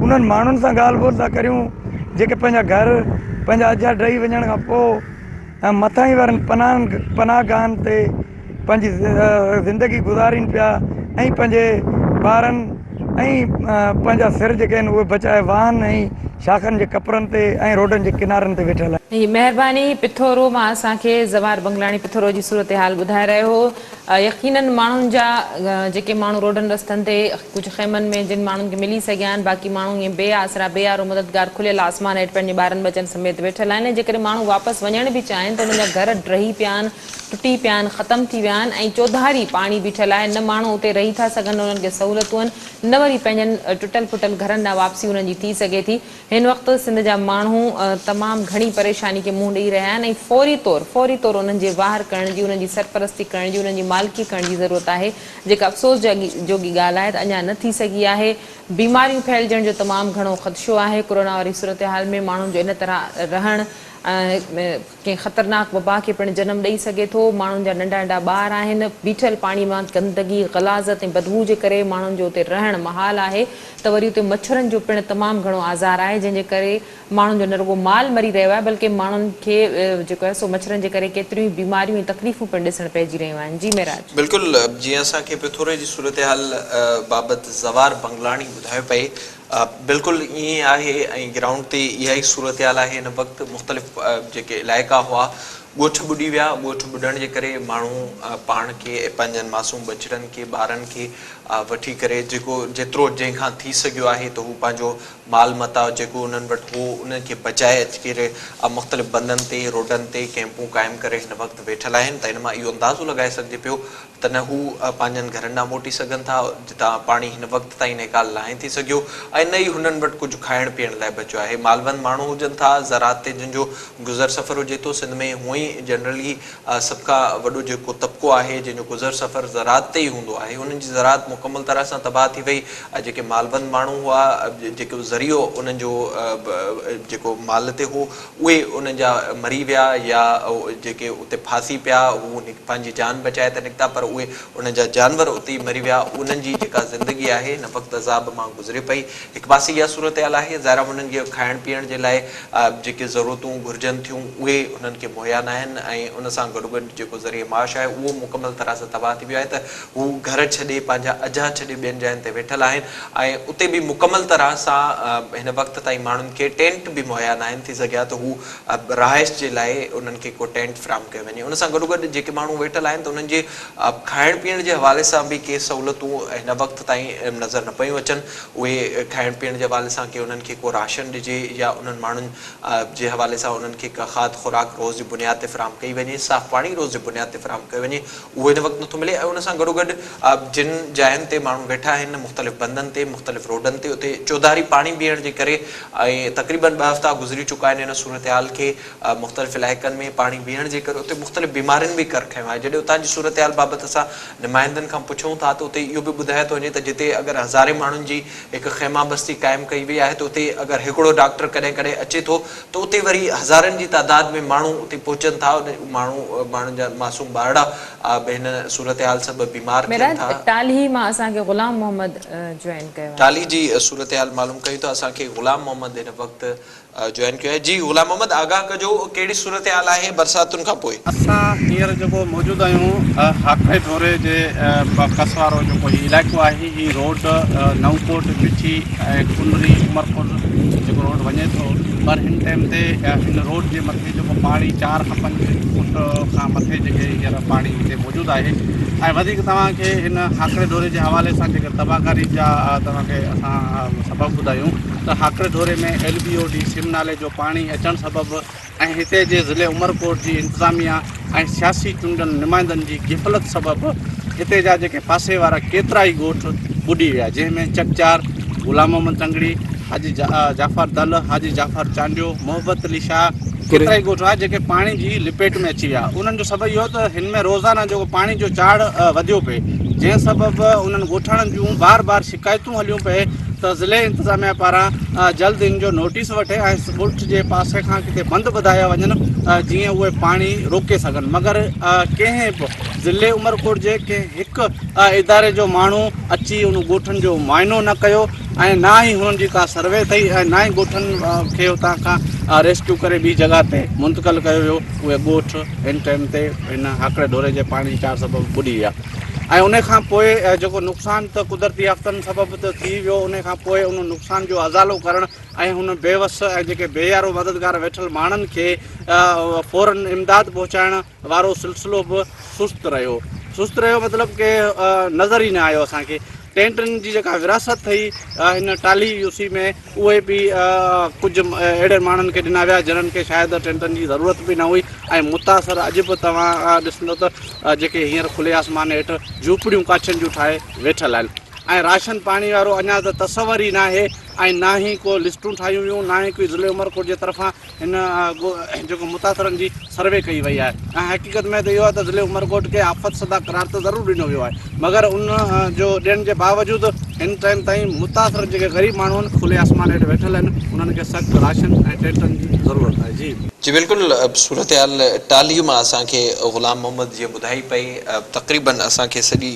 انهن ماڻهن سان ڳالهه ٻولهه ٿا ڪريون جيڪي پنهنجا گهر پنهنجا اجها ڊهي وڃڻ کان پوء مٿاهين وارن پناهن پناهگاهن تي پنهنجي زندگي گذارين پيا ۽ پنهنجي ٻارن ۽ پنهنجا سر جيڪي آهن اهي بچائي واهن ۽ شاخن جي ڪپرن تي ۽ روڊن جي ڪنارن تي ويٺل آهن. مهرباني پٿورو مان اسان کي زوار بنگلاڻي پٿورو جي صورتحال ٻڌائي رهيو هو يقينن ماڻهن جا جيڪي ماڻهو روڊن رستن تي ڪجهه خيمن ۾ جن ماڻهن کي ملي سگهيا آهن باقي ماڻهو ائين بي آسرا بي يارو مددگار کليل آسمان هيٺ پنهنجي ٻارن ٻچن سميت ويٺل آهن ۽ جيڪڏهن ماڻهو واپس وڃڻ به چاهين ته انهن جا گهر ڊهي پيا آهن ٽٽي پيا آهن، ختم ٿي ويا آهن ۽ چوڌاري پاڻي بيٺل آهي، نه ماڻهو اتي رهي ٿا سگهن نه انهن کي سهولتون آهن نه وري پنهنجن ٽٽل ڦٽل گهرن ڏانهن واپسي انهن جي ٿي سگهي ٿي، هن وقت سنڌ جا ماڻهو تمام گهڻي پريشاني کي منهن ڏئي رهيا آهن ۽ فوري طور فوري طور انهن جي واهر ڪرڻ جي انهن جي سرپرستي ڪرڻ جي انهن جي مالڪي ڪرڻ جي ضرورت آهي جيڪا افسوس جوڳي ڳالهه آهي ته اڃا نه ٿي سگهي آهي، بيماريون ڦهلجڻ جو تمام گهڻو خدشو آهي، ڪورونا واري صورتحال ۾ ماڻهن جو ان طرح رهڻ. ڪنهن خطرناڪ وبا کي پڻ جنم ڏئي سگهي ٿو، ماڻهن جا ننڍا ننڍا ٻار آهن، بيٺل پاڻي مان گندگي، غلاظت ۽ بدبوء جي ڪري ماڻهن جو اتي رهڻ محال آهي ته وري اتي مڇرن جو پڻ تمام گهڻو آزار آهي جنهن جي ڪري ماڻهن جو نه رڳو مال مري رهيو آهي بلڪه ماڻهن کي جيڪو آهي سو مڇرن جي ڪري ڪيتريون ئي بيماريون ۽ تڪليفون پڻ ڏسڻ پئجي رهيون آهن جي معراج. بلڪل جيئن اسان کي پٿوري جي صورتحال بابت زوار بنگلاڻي ٻڌايو پئي آء بلڪل ائين آهي ۽ گرائونڊ تي اها ئي صورتحال آهي ان وقت مختلف جيڪي علائقا هئا ڳوٺ ٻڏي ويا ڳوٺ ٻڏڻ جي ڪري ماڻهو پاڻ کي ۽ پنهنجن معصوم ٻچڙن کي ٻارن کي وٺي ڪري جيڪو جيترو جنهن کان ٿي سگهيو آهي ته هو پنهنجو مال متاع جيڪو انهن وٽ هو انهن کي بچائي اچي ڪري مختلف بندن تي روڊن تي ڪئمپون قائم ڪري هن وقت ويٺل آهن ته ان مان اهو اندازو لڳائي سگهجي پيو ته نه هو پنهنجن گهرن ڏانهن موٽي سگهن ٿا، جتان پاڻي هن وقت تائين نيڪال ناهي ٿي سگهيو ۽ نه ئي هنن وٽ ڪجهه کائڻ پيئڻ لاء بچيو آهي. مالوند ماڻهو هجن ٿا، زراعت تي جن جو گذر سفر هجي ٿو، سنڌ ۾ هونء ئي جنرلي سڀ کان وڏو جيڪو طبقو آهي، جنهن جو گذر سفر زراعت تي ئي هوندو آهي، انهن جي زراعت مڪمل طرح سان تباهه ٿي وئي ۽ جيڪي مالوند ماڻهو هئا، جيڪو ذريعو انهن جو جيڪو مال تي هو، اهي انهن جا مري ويا يا جيڪي اتي ڦاسي پيا هو پنهنجي جان بچائي ته نڪتا پر اهي انهن جا جانور اتي ئي مري ويا انهن جي جيڪا زندگي آهي هن وقت عذاب مان گذري پئي هڪ پاسي اها صورتحال آهي ظاهر آهي انهن کي کائڻ پيئڻ جي لاء جيڪي ضرورتون گهرجن ٿيون اهي انهن کي مهيا ناهن ۽ ان سان گڏوگڏ جيڪو ذريعه معاش آهي اهو مڪمل طرح سان تباهه ٿي ويو آهي ته هو گهر ڇڏي، پنهنجا اجها ڇڏي ٻين جاين تي ويٺل آهن ۽ اتي به مڪمل طرح سان هن وقت تائين ماڻهن کي ٽينٽ به مهيا ناهن، ٿي سگهي ها ته هو رهائش جي لاء انهن کي ڪو ٽينٽ فراهم ڪيو وڃي. ان سان گڏوگڏ جيڪي ماڻهو ويٺل آهن ته انهن جي کائڻ پيئڻ جي حوالي سان به ڪي سهولتون هن وقت تائين نظر نه پيون اچن، اهي کائڻ پيئڻ جي حوالي سان ڪي انهن کي ڪو راشن ڏجي يا انهن ماڻهن جي حوالي سان انهن کي ڪا کاڌ خوراڪ روز جي بنياد تي فراهم ڪئي وڃي، صاف پاڻي روز جي بنياد تي فراهم ڪيو وڃي، اهو هن وقت نٿو ملي ۽ ان سان گڏوگڏ جن جاين تي ماڻهو ويٺا آهن مختلف بندن تي مختلف روڊن تي اتي چوڌاري پاڻي بيهڻ جي ڪري ۽ تقريبن ٻه هفتا گذري چڪا آهن ان صورتحال کي مختلف علائقن ۾ پاڻي بيهڻ جي ڪري اتي مختلف بيمارين به ڪر کنيو آهي جڏهن اتان جي صورتحال بابت اسان نمائندن کان پڇون ٿا ته اتي اهو به ٻڌايو ٿو وڃي ته جتي اگر هزارين ماڻهن جي هڪ خيمه بستي قائم ڪئي وئي آهي ته اتي اگر هڪڙو ڊاڪٽر ڪڏهن ڪڏهن اچي ٿو ته اتي وري هزارن جي تعداد ۾ ماڻهو اتي پهچن ٿا ماڻهو ماڻهن جا معصوم ٻارڙا به هن صورتحال سبب بيمار ٿين ٿا. ٽالهي مان اسان کي غلام محمد جوائن ڪيو آهي. ٽالهي جي صورتحال معلوم ڪيون ته اسان کي غلام محمد هن وقت جوائن ڪيو آهي جي غلام محمد آگاهه ڪجو ڪهڙي صورتحال آهي برساتن کان پوء. اسان هينئر جيڪو موجود آهيون هاڪڙي ڍوري جي ڪس وارو جيڪو هي علائقو آهي. هي روڊ نئون ڪوٽ، بٺي ۽ ڪنري عمرپور جيڪو روڊ وڃي ٿو پر هن ٽيم تي هن روڊ جي مٿي جيڪو پاڻي چار کان پنج فوٽ کان مٿي جيڪي هينئر پاڻي هتي موجود آهي ۽ وڌيڪ توهان کي هن هاڪڙي ڍوري جي حوالي سان جيڪي تباهڪاري جا توهان کي اسان سبب ٻڌايون ته هاڪڙي ڍوري ۾ ايل بي او ڊي سم نالي جو پاڻي اچڻ سبب ۽ هتي جي ضلعي عمرڪوٽ جي انتظاميا ۽ سياسي چونڊيل نمائندن جي غفلت سبب هتي جا جيڪي پاسي وارا ڪيترائي ڳوٺ ٻڏي ويا جنهن ۾ چڪچار، غلام محمد تنگڙي، حاجي جعفر دل، حاجي جعفر چانڊيو، محبت علي شاهه، ڪيترائي ڳوٺ هئا جيڪي پاڻي جي لپيٽ ۾ اچي ويا انهن جو سبب اهو ته هن ۾ روزانه جيڪو پاڻي جو چاڙهه وڌيو پئي جنهن سبب انهن ڳوٺاڻن جون بار بار شڪايتون هليون پئي ته ضلعي انتظاميا پاران جلد ان جو نوٽيس وٺي ۽ سٻرٽ جي پاسي کان ڪٿي بند ٻڌايا وڃن جيئن اهي پاڻي روڪي سگهن مگر ڪنهن به ضلعي عمرڪوٽ جي ڪنهن هڪ اداري جو ماڻهو اچي ان ڳوٺن جو معائنو نه ڪيو ۽ نه ئي هنن جي ڪا سروي ڪئي ۽ نه ئي ڳوٺن کي اتان کان ريسڪيو ڪري ٻي جڳهه تي منتقل ڪيو ويو اهي ڳوٺ ان ٽائيم تي هن هاڪڙي ڍوري جي پاڻي چار سبب ٻڏي ويا ۽ ان کان پوء جيڪو نقصان ته قدرتي آفتن سبب ته ٿي ويو، ان کان پوء ان نقصان جو ازالو ڪرڻ ۽ هن بيوس ۽ جيڪي بي يارو مددگار ويٺل ماڻهن کي فورن امداد پهچائڻ وارو سلسلو به سست رهيو. سست رهيو مطلب ڪي نظر ئي نه آيو اسان کي. ٽينٽن جي جيڪا وراثت هئي هن ٽالهي يوسي ۾ اهي به ڪجهه اهڙن ماڻهن کي ڏنا ويا جنن کي شايد ٽينٽن جي ضرورت به نه هئي ۽ متاثر اڄ به توهان ڏسندو ته جيڪي هينئر کلي آسمان هيٺ جهوپڙيون ڪاڇن جون ٺاهي ويٺل آهن ۽ راشن پاڻي وارو اڃا ته تصور ئي ناهي ۽ نه ئي ڪو لسٽون ٺاهيون ويون نه ئي ڪوئي ضلعي عمرڪوٽ جي طرفان هن جيڪو متاثرن جي سروي ڪئي وئي آهي ۽ حقيقت ۾ ته اهو آهي ته ضلعي عمرڪوٽ کي آفت زده قرار ته ضرور ڏنو ويو آهي مگر ان جو ڏيڻ جي باوجود هن ٽائيم تائين متاثر جيڪي غريب ماڻهو آهن کلي آسمان هيٺ ويٺل آهن انهن کي سخت راشن ۽ ٽينٽن جي ضرورت آهي جي جي بلڪل صورتحال ٽالهي مان اسان کي غلام محمد جيئن ٻڌائي پئي تقريبن اسان کي سڄي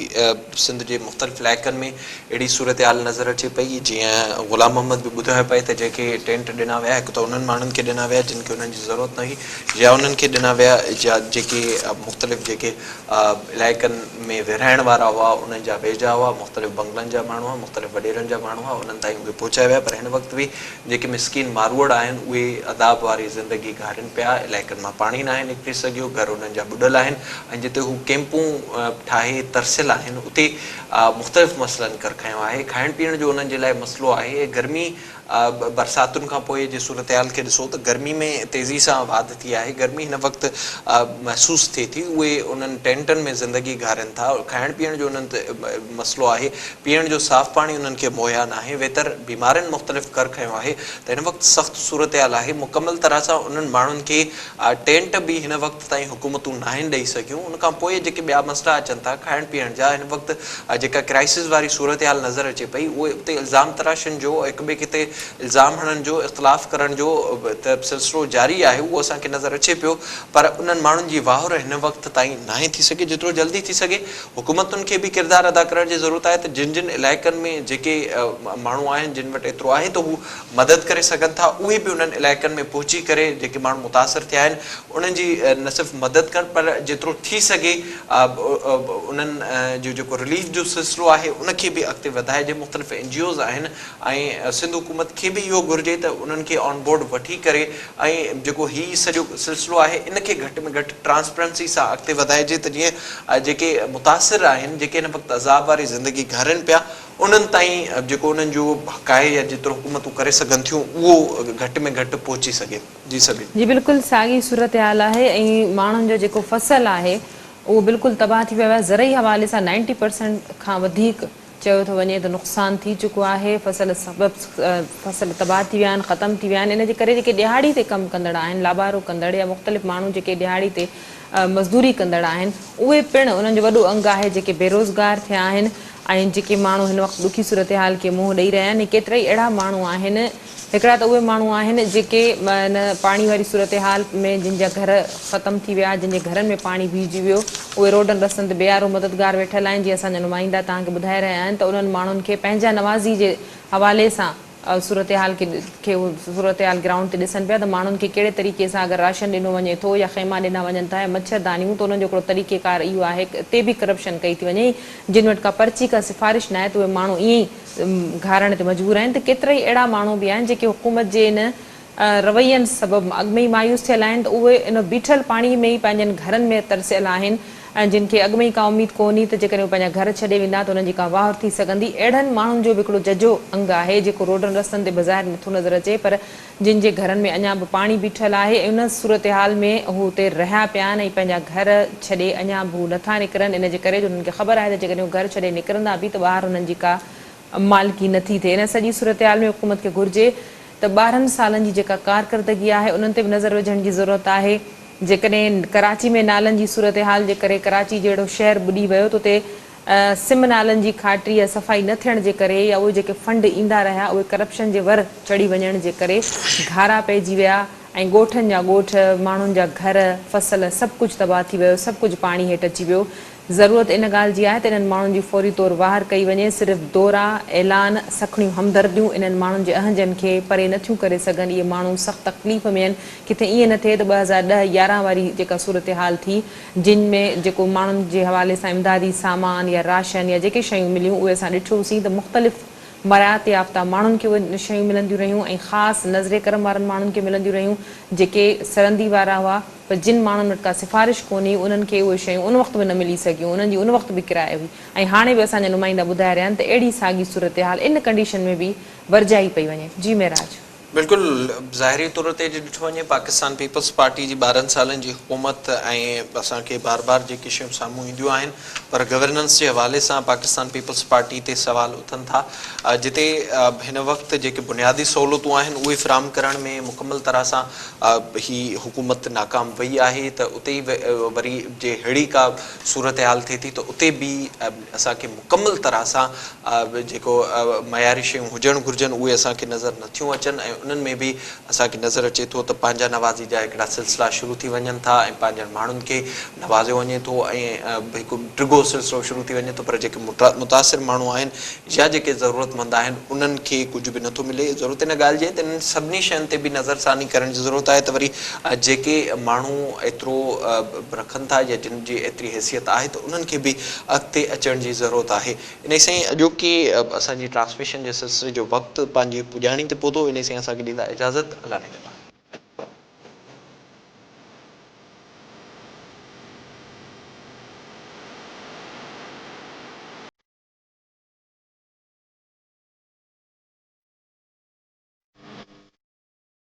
سنڌ جي مختلف علائقن ۾ اهڙي صورتحال نظر اچي پئي، جيئن غلام محمد به ٻڌايو پئي ته جيڪي ٽينٽ ڏنا ويا، هڪ ته انهن ماڻهن کي ڏنا ويا جن کي انهن جي ضرورت نه هئي يا انهن کي ڏنا ويا جا جيڪي مختلف جيڪي علائقن ۾ ورهائڻ وارا هئا انهن جا ويجها هئا، مختلف بنگلن جا ماڻهو هئا، مختلف وڏيرن جا ماڻهو هئا انهن تائين اهي پهچايا ويا پر هن وقت به جيڪي مسڪين ماروئڙ آهن اهي عذاب واري زندگي گهارين پيا، علائقن مان پاڻي ناهي نڪري سگهيو، گهر انهن جا ٻڏل آهن ۽ جتي هو ڪيمپون ٺاهي ترسيل آهن اتي مختلف مسئلن ڪر کنيو آهي، کائڻ پيئڻ جو انهن جي لاء مسئلو آهي، گرمي برساتن کان پوء جي صورتحال کي ڏسو ته گرمي ۾ تيزي سان واڌ ٿي آهي، گرمي هن وقت محسوس ٿئي ٿي، اهي انهن ٽينٽن ۾ زندگي گهارين ٿا، کائڻ پيئڻ جو انهن تي مسئلو آهي، پيئڻ جو صاف پاڻي انهن کي مهيا ناهي، ويتر بيمارين مختلف ڪر کنيو آهي ته هن وقت سخت صورتحال آهي، مڪمل طرح سان انهن ماڻهن کي ٽينٽ به هن وقت. تائين حڪومتون ناهن ڏئي سگهيون ان کان پوء جيڪي ٻيا مسئلا اچن ٿا کائڻ پيئڻ جا هن وقت جيڪا ڪرائسز واري صورتحال نظر اچي پئي اهي اتي الزام تراشن جو هڪ ٻئي کي تي الزام هڻن جو اختلاف ڪرڻ جو ته سلسلو جاري آهي اهو اسان کي نظر اچي پيو پر انهن ماڻهن جي واهر هن وقت تائين ناهي ٿي سگهي جيترو جلدي ٿي سگهي حڪومتن کي به ڪردار ادا ڪرڻ جي ضرورت آهي ته جن جن علائقن ۾ جيڪي ماڻهو آهن جن وٽ ايترو آهي ته هو مدد ڪري سگهن ٿا اهي به انهن علائقن ۾ پهچي ڪري جيڪي ماڻهو متاثر ٿيا آهن انهن جي نه صرف مدد ڪرڻ پر جيترو ٿي سگهي انهن جو جيڪو رليف جو سلسلو آهي ان کي به اڳتي وڌائي جي مختلف اين جي اوز آهن ۽ سنڌ حڪومت کي به اهو گهرجي ته انهن کي آن بورڊ وٺي ڪري ۽ جيڪو هي سڄو سلسلو آهي ان کي گهٽ ۾ گهٽ ٽرانسپرنسي سان اڳتي وڌائجي ته جيئن جيڪي متاثر آهن جيڪي هن وقت عذاب واري زندگي گهارين پيا انهن تائين جيڪو انهن جو حق آهي يا جيترو حڪومتون ڪري سگهن ٿيون اهو گهٽ ۾ گهٽ پهچي سگهي. جي سگهي. جي بلڪل ساڳي صورتحال آهي ۽ ماڻهن جو جيڪو فصل آهي اهو بلڪل تباهه ٿي ويو آهي زرعي حوالي سان نائنٽي پرسنٽ کان وڌيڪ چيو ٿو وڃي ته نقصان ٿي چڪو آهي فصل سبب فصل تباهه ٿي ويا آهن ختم ٿي ويا آهن ان جي ڪري جيڪي ڏهاڙي تي ڪم ڪندڙ آهن لابارو ڪندڙ يا مختلف ماڻهو جيڪي ڏهاڙي تي مزدوري ڪندڙ آهن اهي پڻ انهن جو وڏو انگ آهي جيڪي بيروزگار ٿيا آهن ۽ جيڪي ماڻهو هن وقت ڏکي صورتحال کي منهن ڏئي رهيا آهن ڪيترائي اهڙا ماڻهو آهن هڪڙا ته اهي ماڻهو آهن جيڪي ان پاڻي واري صورتحال ۾ جن جا گهر ختم ٿي ويا، جن جي گهرن ۾ پاڻي بيهجي ويو، اهي روڊن رستن تي بي آر او مددگار ويٺل آهن، جيئن اسان جا نمائندا توهان کي ٻڌائي رهيا آهن ته انهن ماڻهن کي پنهنجا نوازي جي حوالي سان صورتحال کي صورتحال گرائونڊ تي ڏسن پيا ته ماڻهن کي ڪهڙي طريقي سان اگر راشن ڏنو وڃي ٿو يا خيما ڏنا وڃن ٿا يا مڇر دانيون ته انهن جو هڪڙو طريقيڪار اهو آهي اتي به ڪرپشن ڪئي ٿي وڃي جن وٽ ڪا پرچي ڪا سفارش ناهي ته اهي ماڻهو ائين ئي گهارڻ تي مجبور آهن ته ڪيترائي اهڙا ماڻهو به آهن جيڪي حڪومت جي ان روين سبب اڳ ۾ ئي مايوس ٿيل آهن ته اهي ان بيٺل پاڻي ۾ ئي پنهنجن گهرن ۾ ترسيل آهن ۽ جن کي اڳ ۾ ئي ڪا اميد ڪونهي ته جيڪڏهن اهي پنهنجا گهر ڇڏي ويندا ته انهن جي ڪا واهر ٿي سگهندي اهڙن ماڻهن جو به هڪڙو ججهو انگ آهي جيڪو روڊن رستن تي بظاهر نٿو نظر اچي پر جن جي گهرن ۾ اڃا به پاڻي بيٺل آهي ۽ ان صورتحال ۾ هو اتي رهيا پيا آهن ۽ پنهنجا گهر ڇڏي اڃا به هو نٿا نڪرن ان جي ڪري جو هنن کي خبر آهي ته جيڪڏهن هو گهر ڇڏي نڪرندا به ته ٻاهر هنن جي ڪا مالڪي نٿي ٿئي ان سڄي صورتحال ۾ حڪومت کي گهرجي ته ٻارهن سالن جي جيڪا ڪارڪردگي آهي انهن تي به نظر وجهڻ جي ضرورت آهي جيڪڏهن ڪراچي ۾ نالن جي صورتحال جي ڪري ڪراچي جهڙو شهر ٻڏي ويو ته اتي سم نالن جي کاٽري يا صفائي نه ٿيڻ جي ڪري يا اهي جيڪي فنڊ ايندا رهيا اهي ڪرپشن جي ور چڙهي وڃڻ جي ڪري گهارا پئجي ويا ۽ ڳوٺن جا ڳوٺ، ماڻهن جا گهر، فصل سڀ ڪجهه تباهه ٿي ويو، سڀ ڪجهه پاڻي هيٺ اچي ويو. ضرورت ان ڳالهه جي آهي ته انهن ماڻهن جي فوري طور واهر ڪئي وڃي، صرف دورا، اعلان، سکڻيون همدرديون انهن ماڻهن جي اهنجن کي پري نه ٿيون ڪري سگهن، اهي ماڻهو سخت تڪليف ۾ آهن، ڪٿي ائين نه ٿئي ته ٻه هزار ڏهه يارهن واري جيڪا صورتحال ٿي. جن ۾ جيڪو ماڻهن جي حوالي سان امدادي سامان يا راشن يا جيڪي شيون مليون اهي اسان ڏٺيوسين ته مختلف مراعات يافته ماڻهن کي اهي شيون ملنديون رهيون ۽ خاص نظر ڪرم وارن ماڻهن کي ملنديون رهيون جيڪي سرندي وارا هئا پر جن ماڻهن وٽ ڪا سفارش ڪونهي انهن کي اهي شيون ان وقت به نه ملي سگهيون انهن جي ان وقت به ڪرايو هئي ۽ هاڻي به اسان جا نمائندا ٻڌائي رهيا آهن ته اهڙي ساڳي صورتحال ان ڪنڊيشن ۾ به ورجائي پئي وڃي جي معراج بلڪل ظاهري طور تي جي ڏٺو وڃي پاڪستان پيپلز پارٽي جي ٻارهن سالن جي حڪومت ۽ اسان کي بار بار جيڪي شيون سامهون اينديون آهن پر گورننس جي حوالي سان پاڪستان پيپلز پارٽي تي سوال اٿن ٿا جتي هن وقت جيڪي بنيادي سهولتون آهن اهي فراهم ڪرڻ ۾ مڪمل طرح سان هي حڪومت ناڪام وئي آهي ته اتي وري جي ههڙي ڪا صورتحال ٿئي ٿي ته اتي به اسان کي مڪمل طرح سان جيڪو معياري شيون هجڻ گهرجن اهي اسان کي نظر نه ٿيون اچن ۽ انهن ۾ به اسان کي نظر اچي ٿو ته پنهنجا نوازي جا هڪڙا سلسلا شروع ٿي وڃن ٿا ۽ پنهنجن ماڻهن کي نوازيو وڃي ٿو ۽ هڪ ڊگهو سلسلو شروع ٿي وڃي ٿو پر جيڪي متاثر ماڻهو آهن يا جيڪي ضرورت مند آهن انهن کي ڪجهه به نٿو ملي ضرورت ان ڳالهه جي ته انهن سڀني شين تي به نظر ثاني ڪرڻ جي ضرورت آهي ته وري جيڪي ماڻهو ايترو رکن ٿا يا جن جي ايتري حيثيت آهي ته انهن کي به اڳتي اچڻ جي ضرورت آهي. انهي سان ئي اڄوڪي اسان جي ٽرانسميشن جي سلسلي جو وقت پنهنجي پڄاڻي تي پهتو. انهي سان ئي اسان کي ڏيندا اجازت الله نگهبان.